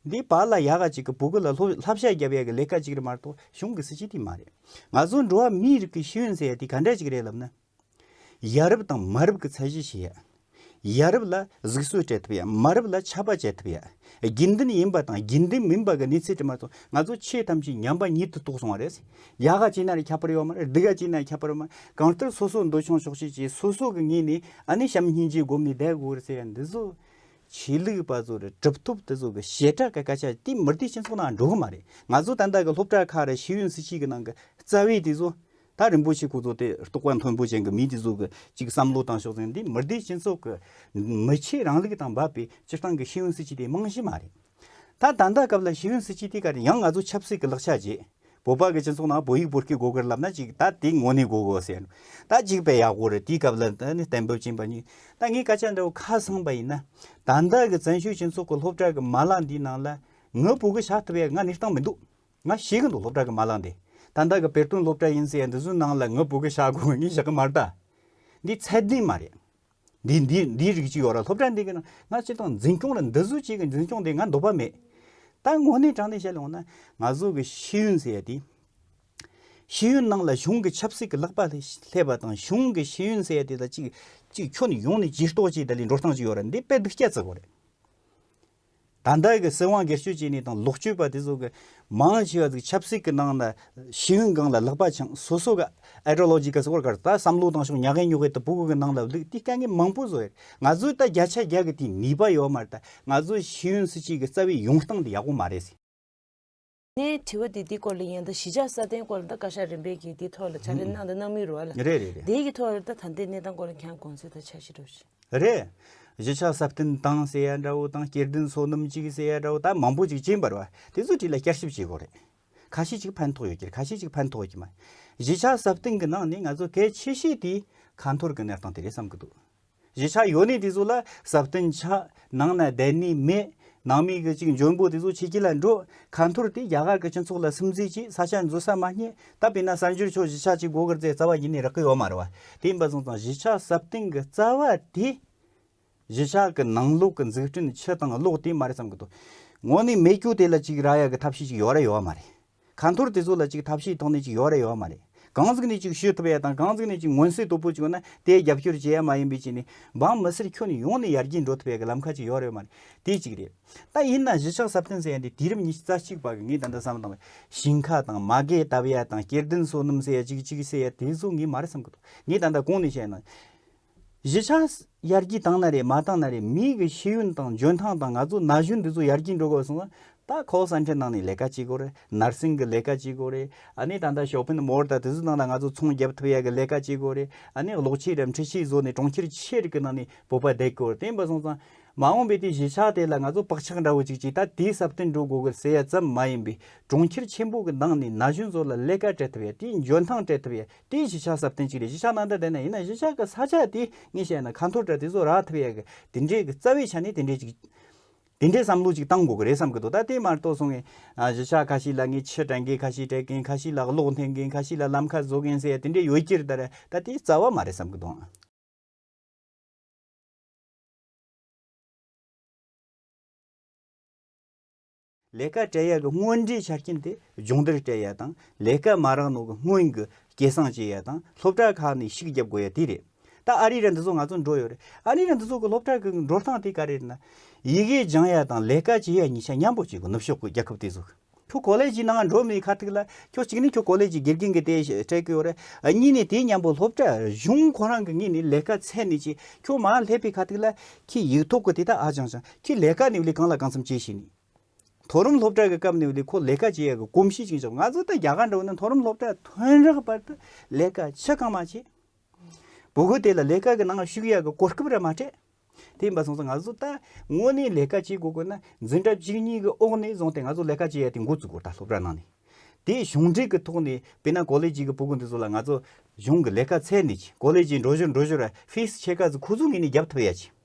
འདི་བག་ལ་ཡག་གཅིག་གི་བུ་གུ་ལ་ལྷ་བཤད་རྒྱབ་ཡག་གི་ལས་ཀ་གཅིག་རེད་མ་གཏོགས་གཞུང་གི་སྲིད་སྤྱི་དེ་མ་རེད། ང་ཚོ་འགྲོ་བ་མིའི་རིགས་ཀྱི་ཤེས་ཡོན་ཟེར་ཡག་དེ་ག་འདྲ་གཅིག་རེད་ལབ་ན། ཡ་རབས་དང་མ་རབས་ཀྱི་ཚད་གཞི་ཞིག་ཡ། ཡ་རབས་ལ་གཟིགས་གསོལ་སྤྲད་ཐུབ་ཡ་མ་རབས་ལ་ཆབ་པ་བྱེད་ཐུབ་ཡ། དགེ་འདུན་ཡིན་པ་དང་དགེ་འདུན་མིན་པ་གི་གནས་ཚུལ་དྲི་མ་ཚོ་ང་ཚོ་ཆོས་ཐམས་ཅད་ཉམས་པ་ཉིད་དུ་རྟོགས་སོང་བ་རེད། ཡ་ག་ཅིག་ན་རེ་ཁྱད་པར་ཡོད་མ་རེད་འདི་ག་ཅིག་ན་ཁྱད་པར་ཡོད་མ་རེད་གང་ལྟར་སོ་སོ་འདོད་ཆུང་ཆོག་ཤེས་ཀྱིས་སོ་སོ་གི་ངོས་ནས་ཨ་ནི་བྱམས་སྙིང་རྗེ་སྒོམ་ནས་བསྡད་དགོས་རེད་ཟེར་ཡ་འདི་ཚོ། ཆོས་ལུགས་པ་ཚོ་རེད་གྲུབ་ཐོབ་དེ་ཚོ་གི་ཞེ་དྲག་གི་སྐད་ཆ་དེ་མུ་སྟེགས་སྤྱི་ཚོགས་ནང་འགྲོ་གི་མ་རེད་ང་ཚོ་ད་ལྟ་གི་སློབ་གྲྭ་ཁག་རེད་ཤེས་ཡོན་སྲིད་བྱུས་ཀྱི་ནང་གི་རྩ་བའི་དེ་ཚོ་ད་རིན་པོ་ཆེ་སྐུ་ཚོགས་དེ་རྟོགས་པ་མཐོན་པོ་ཅན་གྱི་མི་འདི་ཚོ་གི་ཅིག་བསམ་བློ་བཏང་ཤོག་ཟེར་འདི་མི་སྡེའི་སྤྱི་ཚོགས་ཀྱི་མི་ཆེས་རང་ལུགས་དང་འབབ་པའི་སྤྱིར་བཏང་གི་ཤེས་ཡོན་སྲིད་སྤྱི་དེ་རྨང་གཞི་མ་རེད། ད་ད་ལྟ་སྐབས་ལ་ཤེས་ཡོན་སྲིད་སྤྱི་དེ་ག་རེད་ཡང་ང་ཚོ་ཆབ་སྲིད་ཀྱི་ལག་ཆ་རྗེས་བོད་པ་གི་སྤྱི་ཚོགས་ནང་བོད་ཡིག་བོད་སྐད་དགོས་གི་རེད་ལབ་ན་ཅིག་ད་དེ་ངོ་ནས་དགོས་གི་ཟེར་ད་ཅིག་བས་ཡག་པོ་རེད་དེའི་སྐབས་ལ་ད་ནི་གཏན་འབེབས་ཅན་པ་གཉིས་ད་ངས་སྐད་ཆ་འདྲ་བོ་ཁ་སང་པ་ཡིན་ན་ད་ལྟ་གི་བཙན་བྱོལ་སྤྱི་ཚོགས་ཀྱི་སློབ་གྲྭ་གི་མ་ལག་འདིའི་ནང་ལ་ངའི་བུ་གི་བྱ་ཐུབ་ཡ་ང་ནི་བཏང་མི་འདུག། ང་ཤེས་གི་འདུག་སློབ་གྲྭ་གི་མ་བླངས་ཏེ། ད་ལྟ་གི་བེར་སྟོན་སློབ་གྲྭ་ཡིན་ཟེར་འདི་ཚོའི་ནང་ལ་ངུ་འབོད་གི་བཞག་དགོས་ངེས་བཞག་གི་མ་རེད་ད། འདི་ཚད་ལྡན་མ་རེད། འདི་འདི་འདི་རིགས་ཅིག་ཡོད་ར་སློབ་གྲྭ་འདི་གི་ནང་ང་ཅིག་དང་འཛིན་སྐྱོང་ར་འདི་ཚོའི་ཅིག་གི་འཛིན་སྐྱོང་དེ་ང་འདོད་པ་མེད། ད་དངོས་གནས་དྲང་བདེན་བཤད་ལོང་ན་ང་ཚོ་གི་ཤེས་ཡོན་ཟེར་ཡ་དེ། ཤེས་ཡོན་ནང་ལ་གཞུང་གི་ཆབ་སྲིད་གི་ལག་པ་སླེབས་པ་དང་གཞུང་གི་ཤེས་ཡོན་ཟེར་ཡ་དེ་ལ་ཅིག་ཅིག་ཁྱོ་ནི་ཡོང་ནི་ཇིས་རྟོགས་ཅིག་ད་ལི་འགྲོ་སྟངས་ཅིག་ཡོད་ར་འདི་དཔེ་སྡིག་སྐྱ་བརྩི་དགོས་རེད། ད་ལྟ་གི་སྲིད་དབང་སྒེར་གཅོད་བྱས་ནས་དང་ལོག་སྤྱོད་པ་དེ་ཚོ་གི་མང་ཆེ་བ་ཚོ་ཆབ་སྲིད་གི་ནང་ལ་ཤེས་ཡོན་གང་ལ་ལྷག་པ་ཆང་སོ་སོ་གི Ideological སྐོར་གར་ད་བསམ་བློ་བཏང་ཤོག་ཉག་གེ་ཉོག་གེ་ད་བུ་གུ་གི་ནང་ལ་ལུས་དེ་དཀའ་ངལ་མང་པོ་བཟོ་ཡ་རེད་ང་ཚོའི་ད་རྒྱ་ཆ་རྒྱ་གི་དེ་ནུས་པ་ཡོད་མ་རེད་ད་ང་ཚོའི་ཤེས་ཡོན་སྲིད་སྤྱི་གི་རྩ་བའི་ཡོང་སྟངས་དེ་ཡག་པོ་མ་རེད། ནས་དྲི་བ་དེ་འདི་སྐོར་ལ་ཡང་ད་གཞིས་ཆགས་སྲ་བརྟན་སྐོར་ལ་ད་བཀའ་ཤག་རིམ་པས་ཀྱིས་འདི་ཐོག་ལ་བྱ་རེ་གནང་དང་གནང་མུས་རུ་བ་ལ་རེད་རེད་རེད་དེའི་གི་ཐོག་ལ་ད་ད་ལྟའི་གནས་སྟངས་སྐོར་ལ་གྱང་དགོང་ཚོད་ད་ཆ་ཞིག་འགྲོ་བཞིན། རེད། གཞིས་ཆགས་སྲ་བརྟན་དང་སེ་ཡ་འདྲ་བོ་དང་སྐྱེར་ལྡན་སོ་ནམ་གཅིག་སེ་ཡ་འདྲ་བོ་ད་མང་པོ་ཅིག་བྱིན་པར་བ་དེ་ཚོའི་དྲི་ལ་བསྐྱར་ཞིབ་བྱེད་དགོས་རེད། ཁ་ཤས་ཅིག་ཕན་ཐོག་ཡོད་ཀྱི་རེད་ཁ་ཤས་ཅིག་ཕན་ཐོག་ཀྱི་མ་རེད། གཞིས་ཆགས་སྲ་བརྟན་གྱི་ནང་ནས་ང་ཚོ་གལ་ཆེ་ཤོས་དེ་ཁ་འཐོར་གྱི་གནས་སྟངས་དེ་རེད་བསམ་གྱི་འདུག་གཞི་ཆགས་ཡོད་ནི་དེ་ཚོ་ལ་ཟབ་སྟོན་ཆགས། ནང་ན་བསྡད་ནི་མེད། ནང་མི་གི་ཅིག་འཇོན་པོ་དེ་ཚོ་ཕྱི་དཀྱིལ་ལ་འགྲོ། ཁ་འཐོར་དེ་རྒྱ་གར་གི་སྤྱི་ཚོགས་ལ་སིམ་འཛིལ་གྱིས་ས་ཆ་འཛུལ་ས་མ་རྙེད། ད་དཔེར་ན་གསར་འགྱུར་ཕྱོགས་གཞི་ཆགས་ཀྱི་སྒོ་ཁར་རྩེ་རྩ་བ་ཡིན་ནི་རག་གི་ཡོད་མ་རེད་བ། དེ་ཡིན་པ་བཟང་ཙང་གཞི་ཆགས་ཟབ་སྟོན་གི་རྩ་བ་དེ། གཞི་ཆགས་གི་ནང་ལོག་གི་འཛུགས་སྐྲུན་ཕྱི་དང་ལོག་དེ་མ་རེད་བསམ་གི་འདུག། ངོ་ནི་མེད་རྒྱུ་དེ་ལ་ཅིག་རག་ཡ་གི་ཐབས་ཤེས་ཅིག་ཡོད་ར་ཡོད་མ་རེད། ག་འཐོར་དེ་ཚོ་ལ་ཅིག་ཐབས་ཤེས་ཐོག་ནས་ཅིག་ཡོད་རེ་ཡོད་མ་རེད། གང་གཟིགས་ནས་ཅིག་ཤོད་ཐུབ་ཡ་དང་གང་གཟིགས་ནས་ཅིག་མངོན་གསལ་དོད་པོ་ཅིག་ཡོད་ན་དེའི་རྒྱབ་སྐྱོར་བྱེད་ཡ་མ་ཡིན་པའི་ཆེད་ནས་འབངས་མི་སེར་ཁྱོན་ཡོངས་ནས་ཡར་རྒྱས་འགྲོ་ཐུབ་ཡ་གི་ལམ་ཁ་ཅིག་ཡོད་རེ་ཡོད་མ་རེད། དེ་གཅིག་རེད། ད་ཡིན་ན་གཞི་ཆགས་ཟབ་གཏན་ཟེར་ཡ་འདི་དུས་རབས་ཉི་ཤུ་རྩ་གཅིག་པ་གི་ངས་ད་ལྟ་བསམ་བཏང་བའི་ཞིང་ཁ་དང་མ་གས་བཏབ་ཡ་དང་སྐྱེར་ལྡན་སོ་སྣུམ་ཟེར་ཡ་ཅིག་ཅིག་ཟེར་ཡ་དེ་ཚོ་ངས་མ་རེད་བསམ་གི་འདུག་ངས་ད་ལྟ་གོང་ནས་བཤད་ན། གཞི་ཆགས། ཡར་རྒྱས་བཏང་ན་རེད་མ་བཏང་ན་རེད་མི་གི་ཤེས་ཡོན་དང་འཇོན་ཐང་དང་ང་ཚོ་ན་གཞོན་འདི་ཚོ་ཡར་རྒྱས་འགྲོ་དགོས་གསུངས་ན། ད་ཁོག་ས་འཕྲེད་ནང་ནས་ལས་ཀ་བྱེད་དགོས་རེད་ནར་སིང་གི་ལས་ཀ་བྱེད་དགོས་རེད་ཨ་ནི་ད་ལྟ་ཞོ་ཕིན་མོར་དང་དེ་ཚོ་ནང་ལ་ང་ཚོ་ཚོང་བརྒྱབ་ཐུབ་ཡ་གི་ལས་ཀ་བྱེད་དགོས་རེད་ཨ་ནི་གློག་ཆས་རམ་འཕྲུལ་ཆས་བཟོ་ནས་གྲོང་ཁྱེར་ཆེ་རིགས་ཀི་ནང་ནས་བོད་པ་བསྡད་དགོས་རེད་དེ་འབའ་སོང་ཙང། མ་འོངས་པའི་དེ་གཞི་ཆགས་དེ་ལ་ང་ཚོ་བག་ཆགས་འདྲ་བོ་ཅིག་ཅིག་ད་དེ་ཟབ་སྟོན་འགྲོ་དགོས་གི་ཟེར་ཡ་ཙམ་མ་ཡིན་པའི་གྲོང་ཁྱེར་ཆེན་པོ་གི་ནང་ནས་ན་གཞོན་ཚོ་ལ་ལས་ཀ་སྤྲད་ཐུབ་ཡ་དེའི་འཇོན་ཐང་སྤྲད་ཐུབ་ཡ་དེའི་གཞི་ཆགས་ཟབ་དོན་གཅིག་རེད་གཞི་ཆགས་ནང་འདྲ་དེ་ནས་ཡིན་ན་གཞི་ཆགས་ཀྱི་ས་ཆ་དེ་ངས་བཤད་ན་ཁ་འཐོར་འདྲ་དེ་ཚོ་རག་ཐུབ་ཡག་གི་དེ་འདྲའི་གི་རྩ་བའི་ཆ་ནས་དེ་འདྲའི་ཅིག་དེ་འདྲའི་བསམ་བློ་ཅིག་བཏང་དགོས་གི་རེད་བསམ་གི་འདུག་ད་དེ་མ་གཏོགས་སོང་ངས་གཞི་ཆགས་ཁ་ཤས་ལ་ངས་ཕྱི་དྲན་མཁན་ཁ་ཤས་སྤྲད་མཁན་ཁ་ཤས་ལ་གློག་འཐེན་མཁན་ཁ་ཤས་ལ་ལམ་ཁ་བཟོ་མཁན་ཟེར་ཡ་དེ་འདྲའི་ཡོད་ཀྱི་རེད་ད་རེད་ད་དེའི་རྩ་བ་མ་རེད་བསམ་གི་འདུག། ལས་ཀ་བྲལ་ཡས་ཀྱི་དངོས་འབྲེལ་ཆ་རྐྱེན་དེ་སྦྱོང་བརྡར་བྲལ་ཡས་དང་ལས་ཀ་མ་རག་ནོ་གི་སྔོན་གྱི་སྐད་གསང་བྱེད་ཡས་དང་སློབ་གྲྭ་ཁག་ནས་ཤིག་རྒྱབ་དགོས་ཡས་དེ་རེད། ད་ཨ་རི་ར་འདི་ཚོ་ང་ཚོ་འགྲོ་ཡོད་རེད་ཨ་རི་ར་འདི་ཚོ་གི་སློབ་གྲྭ་གི་འགྲོ་སྟངས་དེ་ག་རེ་རེད་ན། ཡི་གེ་སྦྱང་ཡས་དང་ལས་ཀ་བྱེད་ཡས་གཉིས་ཆ་མཉམ་པོ་བྱེད་དགོས་ནུབ་ཕྱོགས་ཀྱི་རྒྱལ་ཁབ་དེ་ཚོ་གི། ཁྱོད་གོ་ལས་ཀྱི་ནང་འགྲོ་མེད་ཁ་ཐུག་ལ་ཁྱོད་གཅིག་ནས་ཁྱོད་གོ་ལས་ཀྱི་དགེ་རྒན་གྱི་དེ་སྤྲད་ཀྱི་ཡོད་རེད་གཉིས་ནས་དེ་མཉམ་པོ་སློབ་གྲྭ་གཞུང་ཁོ་རང་གི་ངེས་ནས་ལས་ཀ་ཚད་ནས་བྱེད་ཁྱོད་མ་སླེབས་པའི་ཁ་ཐུག་ལ་ཁྱི་ཡིག་ཐོག་གི་དེ་དག་ཨ་སྦྱང་སྦྱང་ཁྱེད་ལས་ཀ་ནི་ལས་གང་ལ་གང་འཚམ་བྱས་ཤིང་ནི། མཐོ་རིམ་སློབ་གྲྭའི་སྐབས་ནི་ལས་ཁོ་ལས་ཀ་བྱེད་ཡག་གི་གོམས་གཤིས་ཅིག་བྱུང་ང་ཚོ་དང་རྒྱ་གར་འདྲ་བོ་ནི་མཐོ་རིམ་སློབ་གྲྭའི་ཐོན་རག་བར་དུ་ལས་ཀ་ཆེ་གང་མང་བྱས། བུ་གུ་དེ་ལ་ལས་ཀ་གི་ནང་ཞུགས་ཡག་གི་གོ་སྐབས་ར་མ་སྤྲད། དེ་ཡིན་པ་སོང་ཙང་ང་ཚོ་ད་ངོ་ནས་ལས་ཀ་བྱེད་དགོས་དགོས་ན་འཛིན་གྲྭ་གཅིག་གཉིས་གི་འོག་ནས་བཟུང་སྟེ་ང་ཚོ་ལས་ཀ་བྱེད་ཡག་དེ་མགོ་བཙུགས་གོ་ད་སློབ་གྲྭ་ནང་ནས་དེ་གཞུང་འབྲེལ་གི་ཐོག་ནས་བེ་ན་གོ་ལེ་ཇི་གི་བུ་གུ་འདི་ཚོ་ལ་ང་ཚོ་གཞུང་གི་ལས་ཀ་ཚད་ནས་གོ་ལེ་ཇི་འགྲོ་ཞོར་འགྲོ་ཞོར་ཧ་ཧྥིས་ཆེ་ཁ་ཚོ་ཁོ་ཚོ་ངེས་ནས་རྒྱབ་ཐོབ་ཡག་བྱས།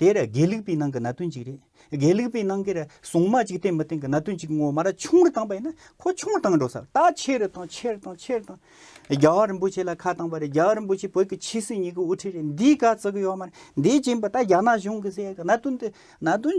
དེ་ར་དགེ་ལུགས་པའི་ནང་གི་གནད་དོན་གཅིག་རེད། དགེ་ལུགས་པའི་ནང་གི་ར་སྲུང་མ་གཅིག་བསྟེན་མི་བསྟེན་གི་གནད་དོན་གཅིག་ངོ་མ་ར་ཆུང་རུ་བཏང་པ་ཡིན་ན་ཁོ་ཆུང་རུ་བཏང་འགྲོ་ས་རེད་ད་ཆེ་རུ་བཏང་ཆེ་རུ་བཏང་ཆེ་རུ་བཏང། རྒྱ་བ་རིན་པོ་ཆེ་ལ་ཁ་བཏང་པ་རེད་རྒྱ་བ་རིན་པོ་ཆེ་བོད་ཀྱི་ཆེས་སྲིད་གཉིས་ཀྱི་དབུ་ཁྲིད་རེད་འདིའི་ག་ཚོད་ཀྱི་ཡོད་མ་རེད་འདིའི་རྐྱེན་པ་ད་རྒྱ་ནག་གཞུང་གིས་བསད་གནད་དོན་དེ་གནད་དོན་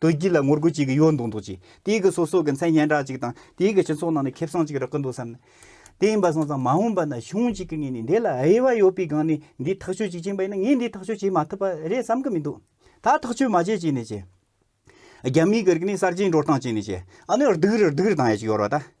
དུ་རྒྱུད་ལ་ངོ་རྒོལ་བྱེད་ཀྱི་ཡོད་འདུག་འདུག་ཅིང་དེའི་གི་སོ་སོ་གི་མཚན་སྙན་གྲགས་ཅིག་དང་དེའི་གི་སྤྱི་ཚོགས་ནང་ནས་ཁེབས་སང་ཅིག་རག་གི་འདུག་བསམ་ནས་དེ་ཡིན་པ་སོང་ཙང་མ་འོངས་པ་ན་གཞུང་ཅིག་གི་ངེས་ནས་འདི་ལ་དབྱེ་བ་ཡོད་པའི་སྒང་ནས་འདི་ཐག་གཅོད་ཅིག་བྱེད་པ་ཡིན་ན་ངས་འདི་ཐག་གཅོད་བྱེད་མ་ཐུབ་པ་རེད་བསམ་གི་མི་འདུག་ད་ཐག་གཅོད་མ་བྱེད་ཅིག་ནས་བྱས། རྒྱ་མིའི་གི་རིག་གནས་གསར་བརྗེའི་འགྲོ་སྟངས་ཅིག་ནས་བྱས་ཨ་ནི་རྡུག་རེ་རྡུག་རེ་བཏང་ཡ་ཅིག་ཡོད་རོགས་ད།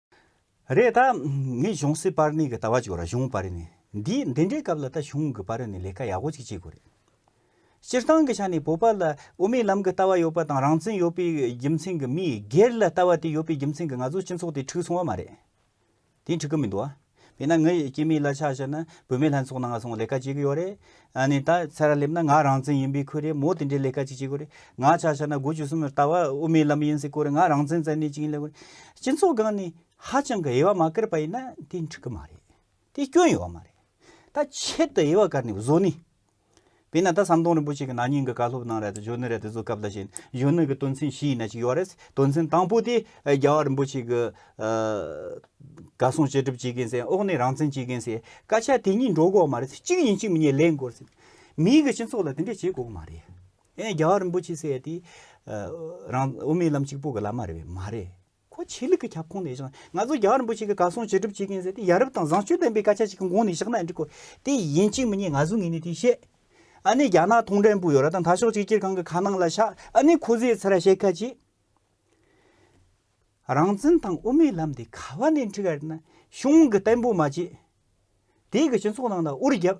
རེད་ད། ངས་གཞུང་སྲིད་པར་ནི་གི་ལྟ་བ་བྱེད་རོགས་གཞུང་པར་ནི་འདི་འདི་འདྲའི་སྐབས་ལ་ད་གཞུང་གི་པར་ནི་ལས་ཀ་ཡག་པོ་ཅིག་བྱེད་དགོས་རེད། སྤྱིར་བཏང་གི་ཆ་ནས་བོད་པ་ལ་དབུ་མའི་ལམ་གི་ལྟ་བ་ཡོད་པ་དང་རང་བཙན་ཡོད་པའི་རྒྱུ་མཚན་གི་མིས་སྒེར་ལ་ལྟ་བ་དེ་ཡོད་པའི་རྒྱུ་མཚན་གི་ང་ཚོ་སྤྱི་ཚོགས་དེ་འཁྲུགས་སོང་བ་མ་རེད། དེ་འཁྲུགས་གི་མི་འདུག་ཨ། དེས་ན་ངའི་སྐྱེས་མའི་གླ་ཆ་ཞེས་ན་བུད་མེད་ལྷན་ཚོགས་ནང་སོང་ལས་ཀ་བྱེད་གི་ཡོད་རེད། ནི་ད་ཚེ་ར་སླེབས་ན་ང་རང་བཙན་ཡིན་པའི་ཁུལ་རེད་མོ་དེ་འདྲའི་ལས་ཀ་ཅིག་བྱེད་གི་རེད། ང་ཆ་ཤ་ན་དགུ་བཅུ་གསུམ་རེད་ད་བ་དབུ་མའི་ལམ་ཡིན་སྲིད་ཁུལ་རེད་ང་རང་བཙན་བཙན་གནས་ཅིག་ཡིན་ལས་ཁུལ་རེད། སྤྱི་ཚོགས་སྒང་ནས་ཧ་ཅང་གི་དབྱེ་བ་མ་བཀར་པ་ཡིན་ན་དེ་འགྲིག་གི་མ་རེད། དེ་སྐྱོན་ཡོད་མ་རེད། ད་ཆེད་དུ་དབྱེ་བ་བཀར་ནས་བཟོ་ནི་དེས་ན་ད་ཟམ་གདོང་རིན་པོ་ཆེ་གི་ན་ནིང་གི་བཀའ་སློབ་གནང་རེད་དོ་གཞོན་ནུ་རེད་དོ་གཟུགས་སྐབས་ལ་བཞིན་གཞོན་ནུ་གི་དོན་ཚན་བཞི་ཡི་ན་གཅིག་ཡོད་རེད། དོན་ཚན་དང་པོ་དེ་རྒྱལ་བ་རིན་པོ་ཆེ་གི་བཀའ་གསུང་བཅད་སྒྲུབ་བྱེད་མཁན་ཟེར་ཨོག་ནས་རང་བཙན་བྱེད་མཁན་ཟེར་སྐད་ཆ་དེ་གཉིས་འགྲོ་དགོས་མ་རེད་གཅིག་ཡིན་གཅིག་མིན་གཉིས་ལེན་དགོས་རེད། མིའི་གི་སྤྱི་ཚོགས་ལ་དེ་འདྲས་བྱེད་དགོས་མ་རེད། ཨེ་རྒྱལ་བ་རིན་པོ་ཆེ་ཟེར་དེ་རང་དབུ་མའི་ལམ་གཅིག་པོ་གི་ལམ་མ་རེད་པས་མ་རེད། ཁོ་ཆོས་ལུགས་ཀྱི་ཁྱབ་ཁོངས་ནས་བཞག་ན་ང་ཚོ་རྒྱ་གར་རིན་པོ་ཆེ་གི་གར་སོང་བྱེད་སྒྲུབ་བྱེད་མཁན་ཟེར་ཏེ་ཡ་རབས་དང་བཟང་སྤྱོད་ལྡན་པའི་སྐད་ཆ་ཞིག་གི་མགོ་ནས་བཞག་ན་འགྲིག་གོ། དེ་ཡིན་གཅིག་མི་གཉིས་ང་ཟུར་ངེས་ནས་དེ་བཤད། ཨ་ནི་རྒྱ་ནག་ཐུང་ཀྲན་པུའུ་ཡོད་ར་དང་དྷ་ཤོག་གཅིག་གྱེར་ཁང་གི་ཁ་ནང་ལ་ཤག་ཨ་ནི་ཁོ་ཟས་ཚེ་ར་བཤད་ཁ་ཅིག། རང་བཙན་དང་དབུ་མའི་ལམ་དེ་ག་བ་ནས་འཁྲིད་ག་རེད་ན་གཞུང་གི་བརྟན་པོ་མ་བྱེད། དེ་གི་སྤྱི་ཚོགས་ནང་ལ་དབུར་རྒྱབ།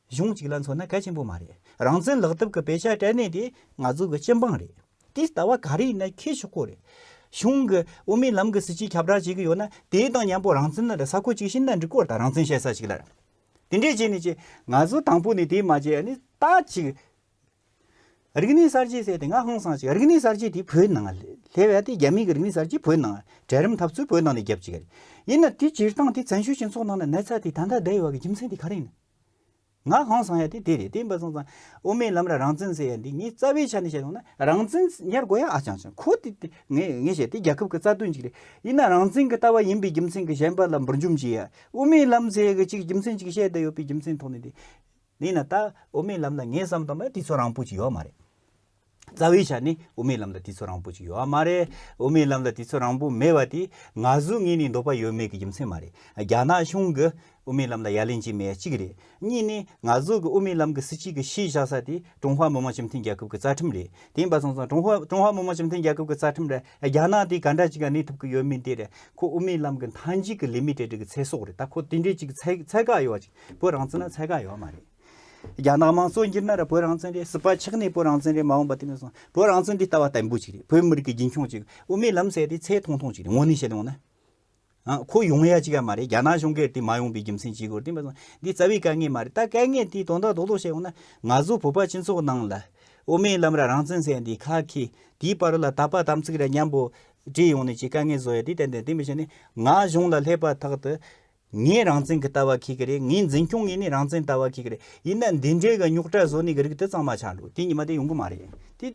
གཞུང་གཅིག་ལ་མཚོན་ན་གལ་ཆེན་པོ་མ་རེད། རང་བཙན་ལག་དེབ་ཀྱི་དཔེ་ཆ་སྤྲད་གནས་དེ་ང་ཚོ་གི་སྤྱི་འབངས་རེད། དེ་ལྟ་བ་ག་རེ་ཡིན་ན་ཁྱེད་ཤོག་ཁོ་རེད། གཞུང་གི་དབུ་མའི་ལམ་གྱི་སྲིད་ཇུས་ཁྱབ་བསྒྲགས་བྱེད་ཀྱི་ཡོད་ན་དེའི་དང་མཉམ་པོ་རང་བཙན་ལ་ས་ཁོ་གཅིག་བྱིན་ན་འགྲིག་སྐོར་དང་རང་བཙན་བཤད་ས་ཞིག་ལ་དེ་འདྲས་བྱས་ནས་ཀྱི་ང་ཚོ་དང་པོ་ནས་དེ་མ་བྱས་ནས་ད་ཅིག་རིག་གནས་གསར་བརྗེ་ཟེར་དེ་ང་ཧང་སང་ཅིག་རིག་གནས་གསར་བརྗེ་དེ་བོད་ནང་སླེ་བས་དེ་རྒྱ་མི་གི་རིག་གནས་གསར་བརྗེ་བོད་ནང་གྲལ་རིམ་འཐབ་རྩོད་བོད་ནང་ནས་རྒྱབ་ཅིག་ཡིན་ན་དེ་སྤྱིར་བཏང་དེ་བཙན་བྱོལ་སྤྱི་ཚོགས་ནང་ན་ན་ཚ་དེ་ད་ལྟ་བསྡད་ཡོད་བ་གི་རྒྱུ་མཚན་དེ་ག་རེ་ཡིན། ང་གང་བཟང་ཡ་དེ་དེ་རེད་དེ་འབའ་བཟང་བཟང། དབུ་མའི་ལམ་ལ་རང་བཙན་ཟེར་ཡ་འདི་ངས་རྩ་བའི་ཆ་ནས་བཤད་ཡོང་ན་རང་བཙན་ཉར་དགོས་ཡ་ཨ་ཅང་ཅང་ཁོ་དེ་དེ་ངས་ངས་བཤད་དེ་རྒྱལ་ཁབ་ཀྱི་རྩ་དོན་ཅིག་རེད་ཡིན་ན་རང་བཙན་གྱི་ལྟ་བ་ཡིན་པའི་རྒྱུ་མཚན་གྱི་གཞན་པ་ལ་འབུར་འཇོམས་བྱས་ཡ་དབུ་མའི་ལམ་ཟེར་ཡ་ཅིག་རྒྱུ་མཚན་ཅིག་བཤད་དེ་ཡོད་པའི་རྒྱུ་མཚན་ཐོག་ནས་དེ་ཡིན་ན་ད་དབུ་མའི་ལམ་ལ་ངས་བསམ་དང་པ་དེ་ཚོ་རང་འཕོ་ཅིག་ཡོད་མ་རེད། རྩ་བའི་ཆ་ནས་དབུ་མའི་ལམ་ལ་དུས་ཚོད་རིང་པོ་ཞིག་ཡོད་ཨ་མ་རེད། དབུ་མའི་ལམ་ལ་དུས་ཚོད་རིང་པོ་མེད་པ་དེ་ང་གཟུགས་ངེས་ནས་འདོད་པ་ཡོད་མེད་ཀྱི་རྒྱུ་མཚན་མ་རེད། རྒྱ་ནག་གཞུང་གིས་དབུ་མའི་ལམ་ལ་ཡ་ལན་བྱས་མེད་གཅིག་རེད། གཉིས་ནས་ང་གཟུགས་ཀྱི་དབུ་མའི་ལམ་གྱི་སྲིད་སྤྱི་གི་གཞིས་བཞག་ས་དེ་ཀྲུང་ཧྭ་མི་དམངས་སྤྱི་མཐུན་རྒྱལ་ཁབ་ཀྱི་རྩ་ཁྲིམས་རེད། དེ་འབའ་སོང་སོང་ཀྲུང་ཧྭ་ཀྲུང་ཧྭ་མི་དམངས་སྤྱི་མཐུན་རྒྱལ་ཁབ་ཀྱི་རྩ་ཁྲིམས་རེད། རྒྱ་ནག་དེ་ག་འདྲ་ཅིག་ག་གནས་ཐུབ་ཀྱི་ཡོད་མིན་དེ་རེད། ཁོ་དབུ་མའི་ལམ་གྱི་མཐའ་མཇུག་གི་ལི་མི་ཏྲེ་ཏྲི་གི་ཚེ་སྲོག་རེད་ད་ཁོ་དེ་འདྲའི་ཅིག་ཚད་བཀག་ཡོད་བ་ཅིག་བོད་རང་བཙན་ལ་ཚད་བཀག་ཡོད་མ་རེད། རྒྱ་ནག་མང་གཙོ་འགྱུར་ན་ར་བོད་རང་བཙན་རེད་ཟུར་པ་ཆགས་ནས་བོད་རང་བཙན་རེད་མ་འོངས་པ་དེ་མིན་སོང་བོད་རང་བཙན་འདི་ལྟ་བ་བརྟན་པོ་ཅིག་རེད་བོད་མི་རིགས་ཀྱི་རྒྱུན་འཁྱོངས་ཅིག་དབུ་མའི་ལམ་ཟེར་དེ་ཚད་ཐུང་ཐུང་ཅིག་རེད་དངོས་གནས་བཤད་ཡོང་ན། ཨང་ཁོ་ཡོང་ཡ་ཅིག་ཡ་མ་རེད་རྒྱ་ནག་གཞུང་སྒེར་དེ་མ་ཡོང་པའི་རྒྱུ་མཚན་ཅི་དགོས་དེ་མིན་སོང་འདི་རྩ་བའི་དཀའ་ངལ་མ་རེད་ད་དཀའ་ངལ་དེ་དོན་དག་རྡོག་རྡོག་བཤད་ཡོང་ན་ང་ཚོ་བོད་པ་སྤྱི་ཚོགས་ནང་ལ་དབུ་མའི་ལམ་ར་རང་བཙན་ཟེར་འདི་ཁ་ཁེ་དེའི་བར་ལ་དག་པ་དམ་ཚིག་ར་མཉམ་པོ་བྲིས་ཡོང་ནས་ཅིག་དཀའ་ངལ་བཟོ་ཡ་དེ་གཏན་ནས་དེ་མི་བྱེད་ནས་ང་གཞུང་ལ་སླེབས་པ་ཐག་ཏུ་ངའི་རང་བཙན་གྱི་ལྟ་བ་ཁྱེད་ཀྱི་རེད་ངའི་འཛིན་སྐྱོང་གི་ནི་རང་བཙན་ལྟ་བ་ཁྱེད་ཀྱི་རེད་ཡིན་ན་འདི་འདྲའི་གི་རྙོག་དྲ་བཟོ་ནི་གི་རིགས་དེ་གཙང་མ་ཆགས་འགྲོ་དེ་ཉི་མ་དེ་ཡོང་གི་མ་རེད་དེ།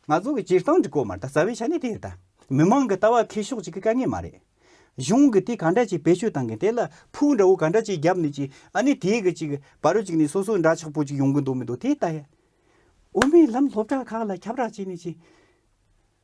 ང་ཚོ་གི་སྤྱིར་བཏང་གི་སྐོར་མ་རེད་ད་རྩ་བའི་ཆ་ནས་དེ་རེད་ད། མི་མང་གི་ལྟ་བ་ཁེ་ཕྱོགས་གཅིག་གི་དཀའ་ངལ་མ་རེད། གཞུང་གི་དེ་ག་འདྲ་ཅིག་བེད་སྤྱོད་བཏང་གི་དེ་ལ་ཕུག་འདྲ་བོ་ག་འདྲ་ཅིག་བརྒྱབ་ནི་ཅིག་ཨ་ནི་དེ་གི་ཅིག་བ་རོ་ཅིག་ནི་སོ་སོ་འདྲ་ཆགས་པོ་ཅིག་ཡོང་གི་འདུག་མི་འདུག་དེ་ལྟ་ཡ། འོ་མའི་ལམ་སློབ་གྲྭ་ཁག་ལ་ཁྱབ་ར་བྱས་ནི་ཅིག།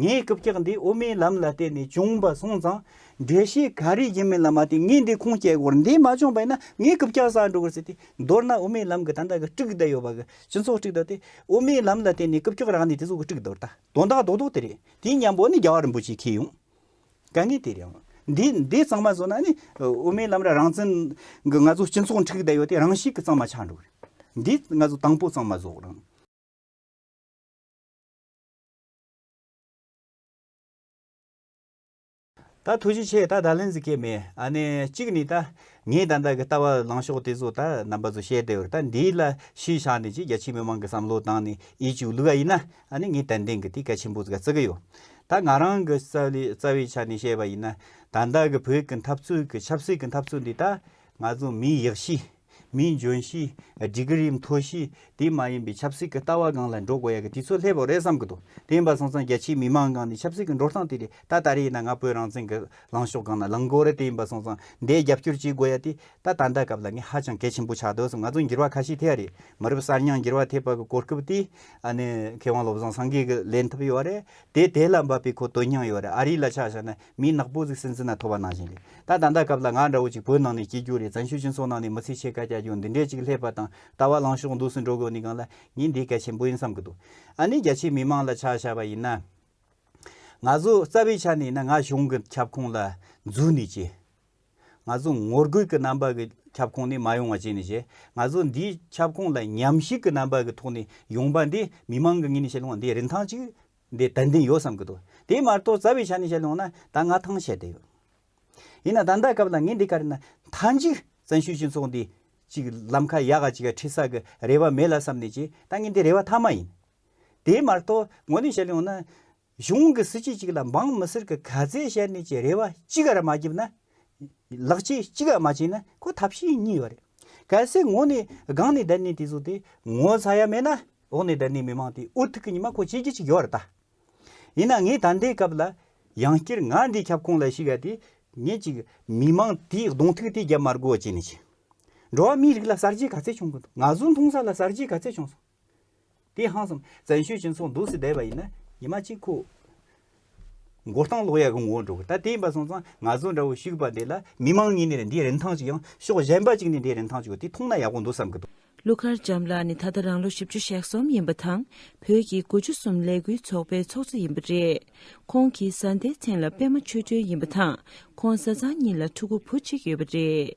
ངས་རྐུབ་བཀྱག་འདི་དབུ་མའི་ལམ་ལ་བརྟེན་ནས་བྱུང་བ་གསུངས་ཙང། འགྲེལ་བཤད་ག་རེ་བྱེད་མིན་ལ་མ་བལྟས་ངས་འདི་ཁུངས་སྐྱེལ་སྐོར་འདི་མ་བྱུང་བས་ན་ངས་རྐུབ་བཀྱག་བསགས་འགྲོ་དགོས་ཟེར་ཏེ། མདོར་ན་དབུ་མའི་ལམ་གྱི་ད་ལྟ་གི་དཀྲུག་བསྡད་ཡོད་པ་གི་སྤྱི་ཚོགས་དཀྲུག་བསྡད་དེ། དབུ་མའི་ལམ་ལ་བརྟེན་ནས་རྐུབ་བཀྱག་རག་ནས་དེ་ཚོ་གི་དཀྲུག་བསྡད་ད་དོན་དག་རྡོག་རྡོག་དེ་རེད། དེའི་ཉམས་འོག་ནས་རྒྱ་བ་རིན་པོ་ཆེ་ཁེལ་ཡོང། དཀའ་ངལ་དེ་རེད། འདི་འདི་གཙང་མ་བཟོ་ན་ནི། དབུ་མའི་ལམ་ར་རང་བཙན་གི་ང་ཚོ་སྤྱི་ཚོགས་དཀྲུག་བསྡད་ཡོད་དེ་རང་ཤི་གི་གཙང་མ་ཆགས་འགྲོ་གི་རེད། འདི་ང་ཚོ་དང་པོ་གཙང་མ་བཟོ་རང། ད་ཐུགས་རྗེ་ཆེ་ད་ད་ལན་ཟིག་སྐད་མེད་ཨ་ནི་གཅིག་ནི་ད་ངས་ད་ལྟ་གི་ལྟ་བ་ལངས་ཕྱོགས་དེ་ཚོ་ད་རྣམ་པ་ཚོ་བཤད་དེ་བར་ད་འདིའི་ལ་ཤུལ་བཞག་ནས་ཅིག་རྒྱ་ཆེའི་མི་མང་གི་བསམ་བློ་དང་ནི་ཡིད་ཆུག་ལུགས་ཨ་ཡིན་ན་ཨ་ནི་ངས་ཏན་ཏན་གི་དེ་གལ་ཆེན་པོ་ཟིག་ག་བརྩི་གི་ཡོད་ད་ང་རང་གི་རྩ་བའི་ཆ་ནས་བཤད་པ་ཡིན་ན་ད་ལྟ་གི་བོད་ཀྱི་འཐབ་རྩོད་ཀྱི་ཆབ་སྲིད་ཀྱི་འཐབ་རྩོད་འདི་ད་ང་ཚོ་མིའི་ཡག་ཤེས། མིའི་འཇོན་གཤིས། སྒྲིག་རིམ་མཐོ་གཤིས། དེ་མ་ཡིན་པའི་ཆབ་སྲིད་ཀྱི་ལྟ་བ་སྒང་ལ་འགྲོ་དགོས་ཡ་གི་དེ་ཚོ་ལྷད་པོ་རེད་བསམ་གི་འདུག་དེ་ཡིན་པ་སོང་ཙང་རྒྱ་ཆེའི་མི་མང་སྒང་ནས་ཆབ་སྲིད་ཀྱི་འགྲོ་སྟངས་དེ་རེད་ད་ད་རེ་ཡིན་ན་ང་བོད་རང་བཙན་གྱི་ལངས་ཕྱོགས་སྒང་ན་ལངས་དགོས་རེད་དེ་ཡིན་པ་སོང་ཙང་འདའི་རྒྱབ་སྐྱོར་བྱེད་དགོས་ཡ་དེ་ད་ད་ལྟ་སྐབས་ལ་ངས་ཧ་ཅང་གལ་ཆེན་པོ་ཆགས་འདུག་བསམ་ང་ཚོ་འགྱུར་བ་ཁ་ཤས་ཐེབས་ཡ་རེད་མ་རབས་གསར་རྙིང་འགྱུར་བ་ཐེབས་པ་གི་གོ་སྐབས་དེ་ཨ་ནི་མཁས་དབང་བློ་བཟང་སངས་རྒྱས་ཀྱི་ལན་ཐུབ་ཡོད་རེད་དེ་དེ་ལ་འབབ་པའི་གོ་དོན་རྙིང་ཡོད་རེད་ཨ་རི་ལ་ཆ་བཞག་ན་མི་ནག་པོ་གཟིགས་སེམས་ཟིན་ན་ཐོ་བ་གནང་བཞིན་རེད་ད་ད་འདའ་སྐབས་ལ་ང་འདྲ་བོ་ཅིག་བོད་ནང་ནས་སྐྱེས་རྒྱུ་རེད་བཙན་ཤུལ་སྤྱི་ཚོགས་ནང་ནས་མི་ཚེ་ཕྱེད་ཀ་བསྐྱལ་རྒྱུ་འདི་འདྲས་ཅིག་ལྷད་པ་དང་ལྟ་བ་ལངས་ཕྱོགས་འདུག་སུ་འགྲོ་དགོས་ནི་གང་ལ་ངས་འདི་གལ་ཆེན་པོ་ཡིན་བསམ་གི་འདུག་ཨ་ནི་རྒྱ་ཆེའི་མི་མང་ལ་ཆ་བཞག་པ་ཡིན་ན། ང་ཚོ་རྩ་བའི་ཆ་ནས་ཡིན་ན་ང་གཞུང་གི་ཁྱབ་ཁོངས་ལ་འཛུལ་ནས་བྱས། ང་ཚོ་ངོ་རྒོལ་གི་རྣམ་པ་གི་ཁྱབ་ཁོངས་ནས་མ་ཡོང་བ་བྱས་ནས་བྱས། ང་ཚོ་འདིའི་ཁྱབ་ཁོངས་ལ་ཉམས་ཞིབ་གི་རྣམ་པ་གི་ཐོག་ནས་ཡོང་པ་འདི་མི་མང་གི་ངོས་ནས་བཤད་ལུང་བ་འདི་རིན་ཐང་ཅིག་འདི་ད་འདི་ཡོད་བསམ་གྱི་འདུག་དེའི་མ་གཏོགས་རྩ་བའི་ཆ་ནས་བཤད་ལོང་ན་ད་ང་ཐང་ཆད་དེ་ཡོད། ཡིན་ན་ད་ལྟ་སྐབས་ལ་ངས་འདི་ག་རེ་ན་མཐའ་མཇུག་བཙན་བྱོལ་སྤྱི་ཚོགས་འདི་ཅིག་ལམ་ཁ་ཡག་ག་ཅིག་ག་འཁྲིད་ས་གི་རེ་བ་མེད་ལ་བསམ་ནས་ཀྱི་ད་ངས་འདི་རེ་བ་མཐའ་མ་ཡིན། དེའི་མ་གཏོགས་ངོ་ནས་བཤད་ལོང་ན་གཞུང་གི་སྲིད་སྤྱི་ཅིག་ལ་འབངས་མི་སེར་གི་ག་ཚད་བཤད་ནས་ཀྱི་རེ་བ་ཅི་ག་ར་མ་བརྒྱབ་ན། ལག་ཆས་ཅི་ག་མ་བྱས་ན་ཁོ་ཐབས་ཤེས་གཉིས་པ་རེད། གལ་སྲིད་ངོ་ནས་སྒང་ནས་བསྡད་ནས་དེ་ཚོ་དེ་ངོ་ཚ་ཡ་མེད་ན་འོག་ནས་དེར་ནི་མི་མང་དེས་ཨོ་ཐུག་གི་ཉི་མ་ཁོ་ཅིག་གིས་ཅིག་ཡོད་རེད་ད། ཡིན་ན་ངས་ད་ལྟའི་སྐབས་ལ་ཡང་སྐྱིར་ང་འདིའི་ཁྱབ་ཁོངས་ལ་ཞིག་ཡ་དེ་ངས་ཅིག་མི་མང་དེའི་གདོང་ཐུག་དེ་རྒྱབ་མར་དགོས་ཅེས་ནས་ཅིག། འགྲོ་བ་མིའི་རིགས་ལ་གསར་བརྗེའི་ག་ཚད་བྱུང་གི་འདུག་ང་ཟུར་མཐོང་ས་ལ་གསར་བརྗེའི་ག་ཚད་བྱུང་སོང། དེ་ཧང་སང་བཙན་བྱོལ་སྤྱི་ཚོགས་འདུག་སེ་བསྡད་པ་ཡིན་ན་ཉི་མ་གཅིག་ཁོ། མགོ་སྟངས་ལོག་ཡ་གི་ངོ་བོ་འགྲོ་གི་ད་དེ་ཡིན་པ་སོང་ཙང་ང་ཚོ་འདྲ་བོ་བཤིག་པ་འདི་ལ་མི་དམངས་གཉིས་ནས་འདི་རིན་ཐང་ཅིག་ཡང་ཤོག་གཞན་པ་གཅིག་ནས་འདི་རིན་ཐང་ཅིག་ཡོད་དེ་མཐོང་ན་ཡག་པོ་འདུག་བསམ་གི་འདུག། ཀླུ་མཁར་བྱམས་ལགས་ནི་ད་ལྟ་རང་ལོ་བཞི་བཅུ་ཞག་གསུམ་ཡིན་པ་དང་བོད་ཀྱི་དགུ་བཅུ་གསུམ་ལས་འགུལ་ཚོགས་པའི་ཚོགས་གཙོ་ཡིན་པ་རེད། ཁོང་གིས་བཟའ་ཟླའི་མཚན་ལ་པད་མ་ཆོས་སྒྲོན་ཡིན་པ་དང་ཁོང་བཟའ་ཚང་གཉིས་ལ་ཕྲུ་གུ་བུ་གཅིག་ཡོད་པ་རེད།